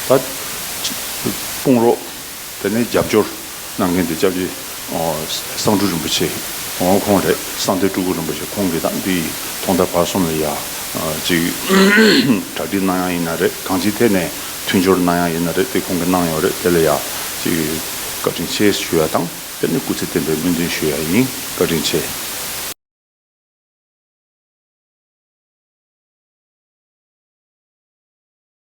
ད་དཔུང་རོགས། དེ་ནས་རྒྱབ་སྐྱོར་གནང་མཁན་དེ་ལྕགས་ཀྱི་གསང་སྤྲུལ་རིན་པོ་ཆེ་ངོ་ཁོང་རེད་གསང་སྟེ་སྤྲུལ་སྐུ་རིན་པོ་ཆེ་ཁོང་གིས་དང་དེའི་ཐོག་མཐའ་བར་གསུམ་ལ་ཡ་གཅིག་གྲ་སྒྲིག་གནང་ཡག་ཡིན་ན་རེད་གང་ཅིའི་ཐད་ནས་མཐུན་སྦྱོར་གནང་ཡག་ཡིན་ན་རེད་དེ་ཁོང་གིས་གནང་ཡོད་རེད་དེ་ལ་ཡ་གཅིག་བཀའ་དྲིན་ཆེ་ཞུ་ཡག་དང་དེ་ནས་སྐུ་ཚེ་བརྟན་པའི་སྨོན་འདུན་ཞུ་ཡག་ཡིན་བཀའ་དྲིན་ཆེ།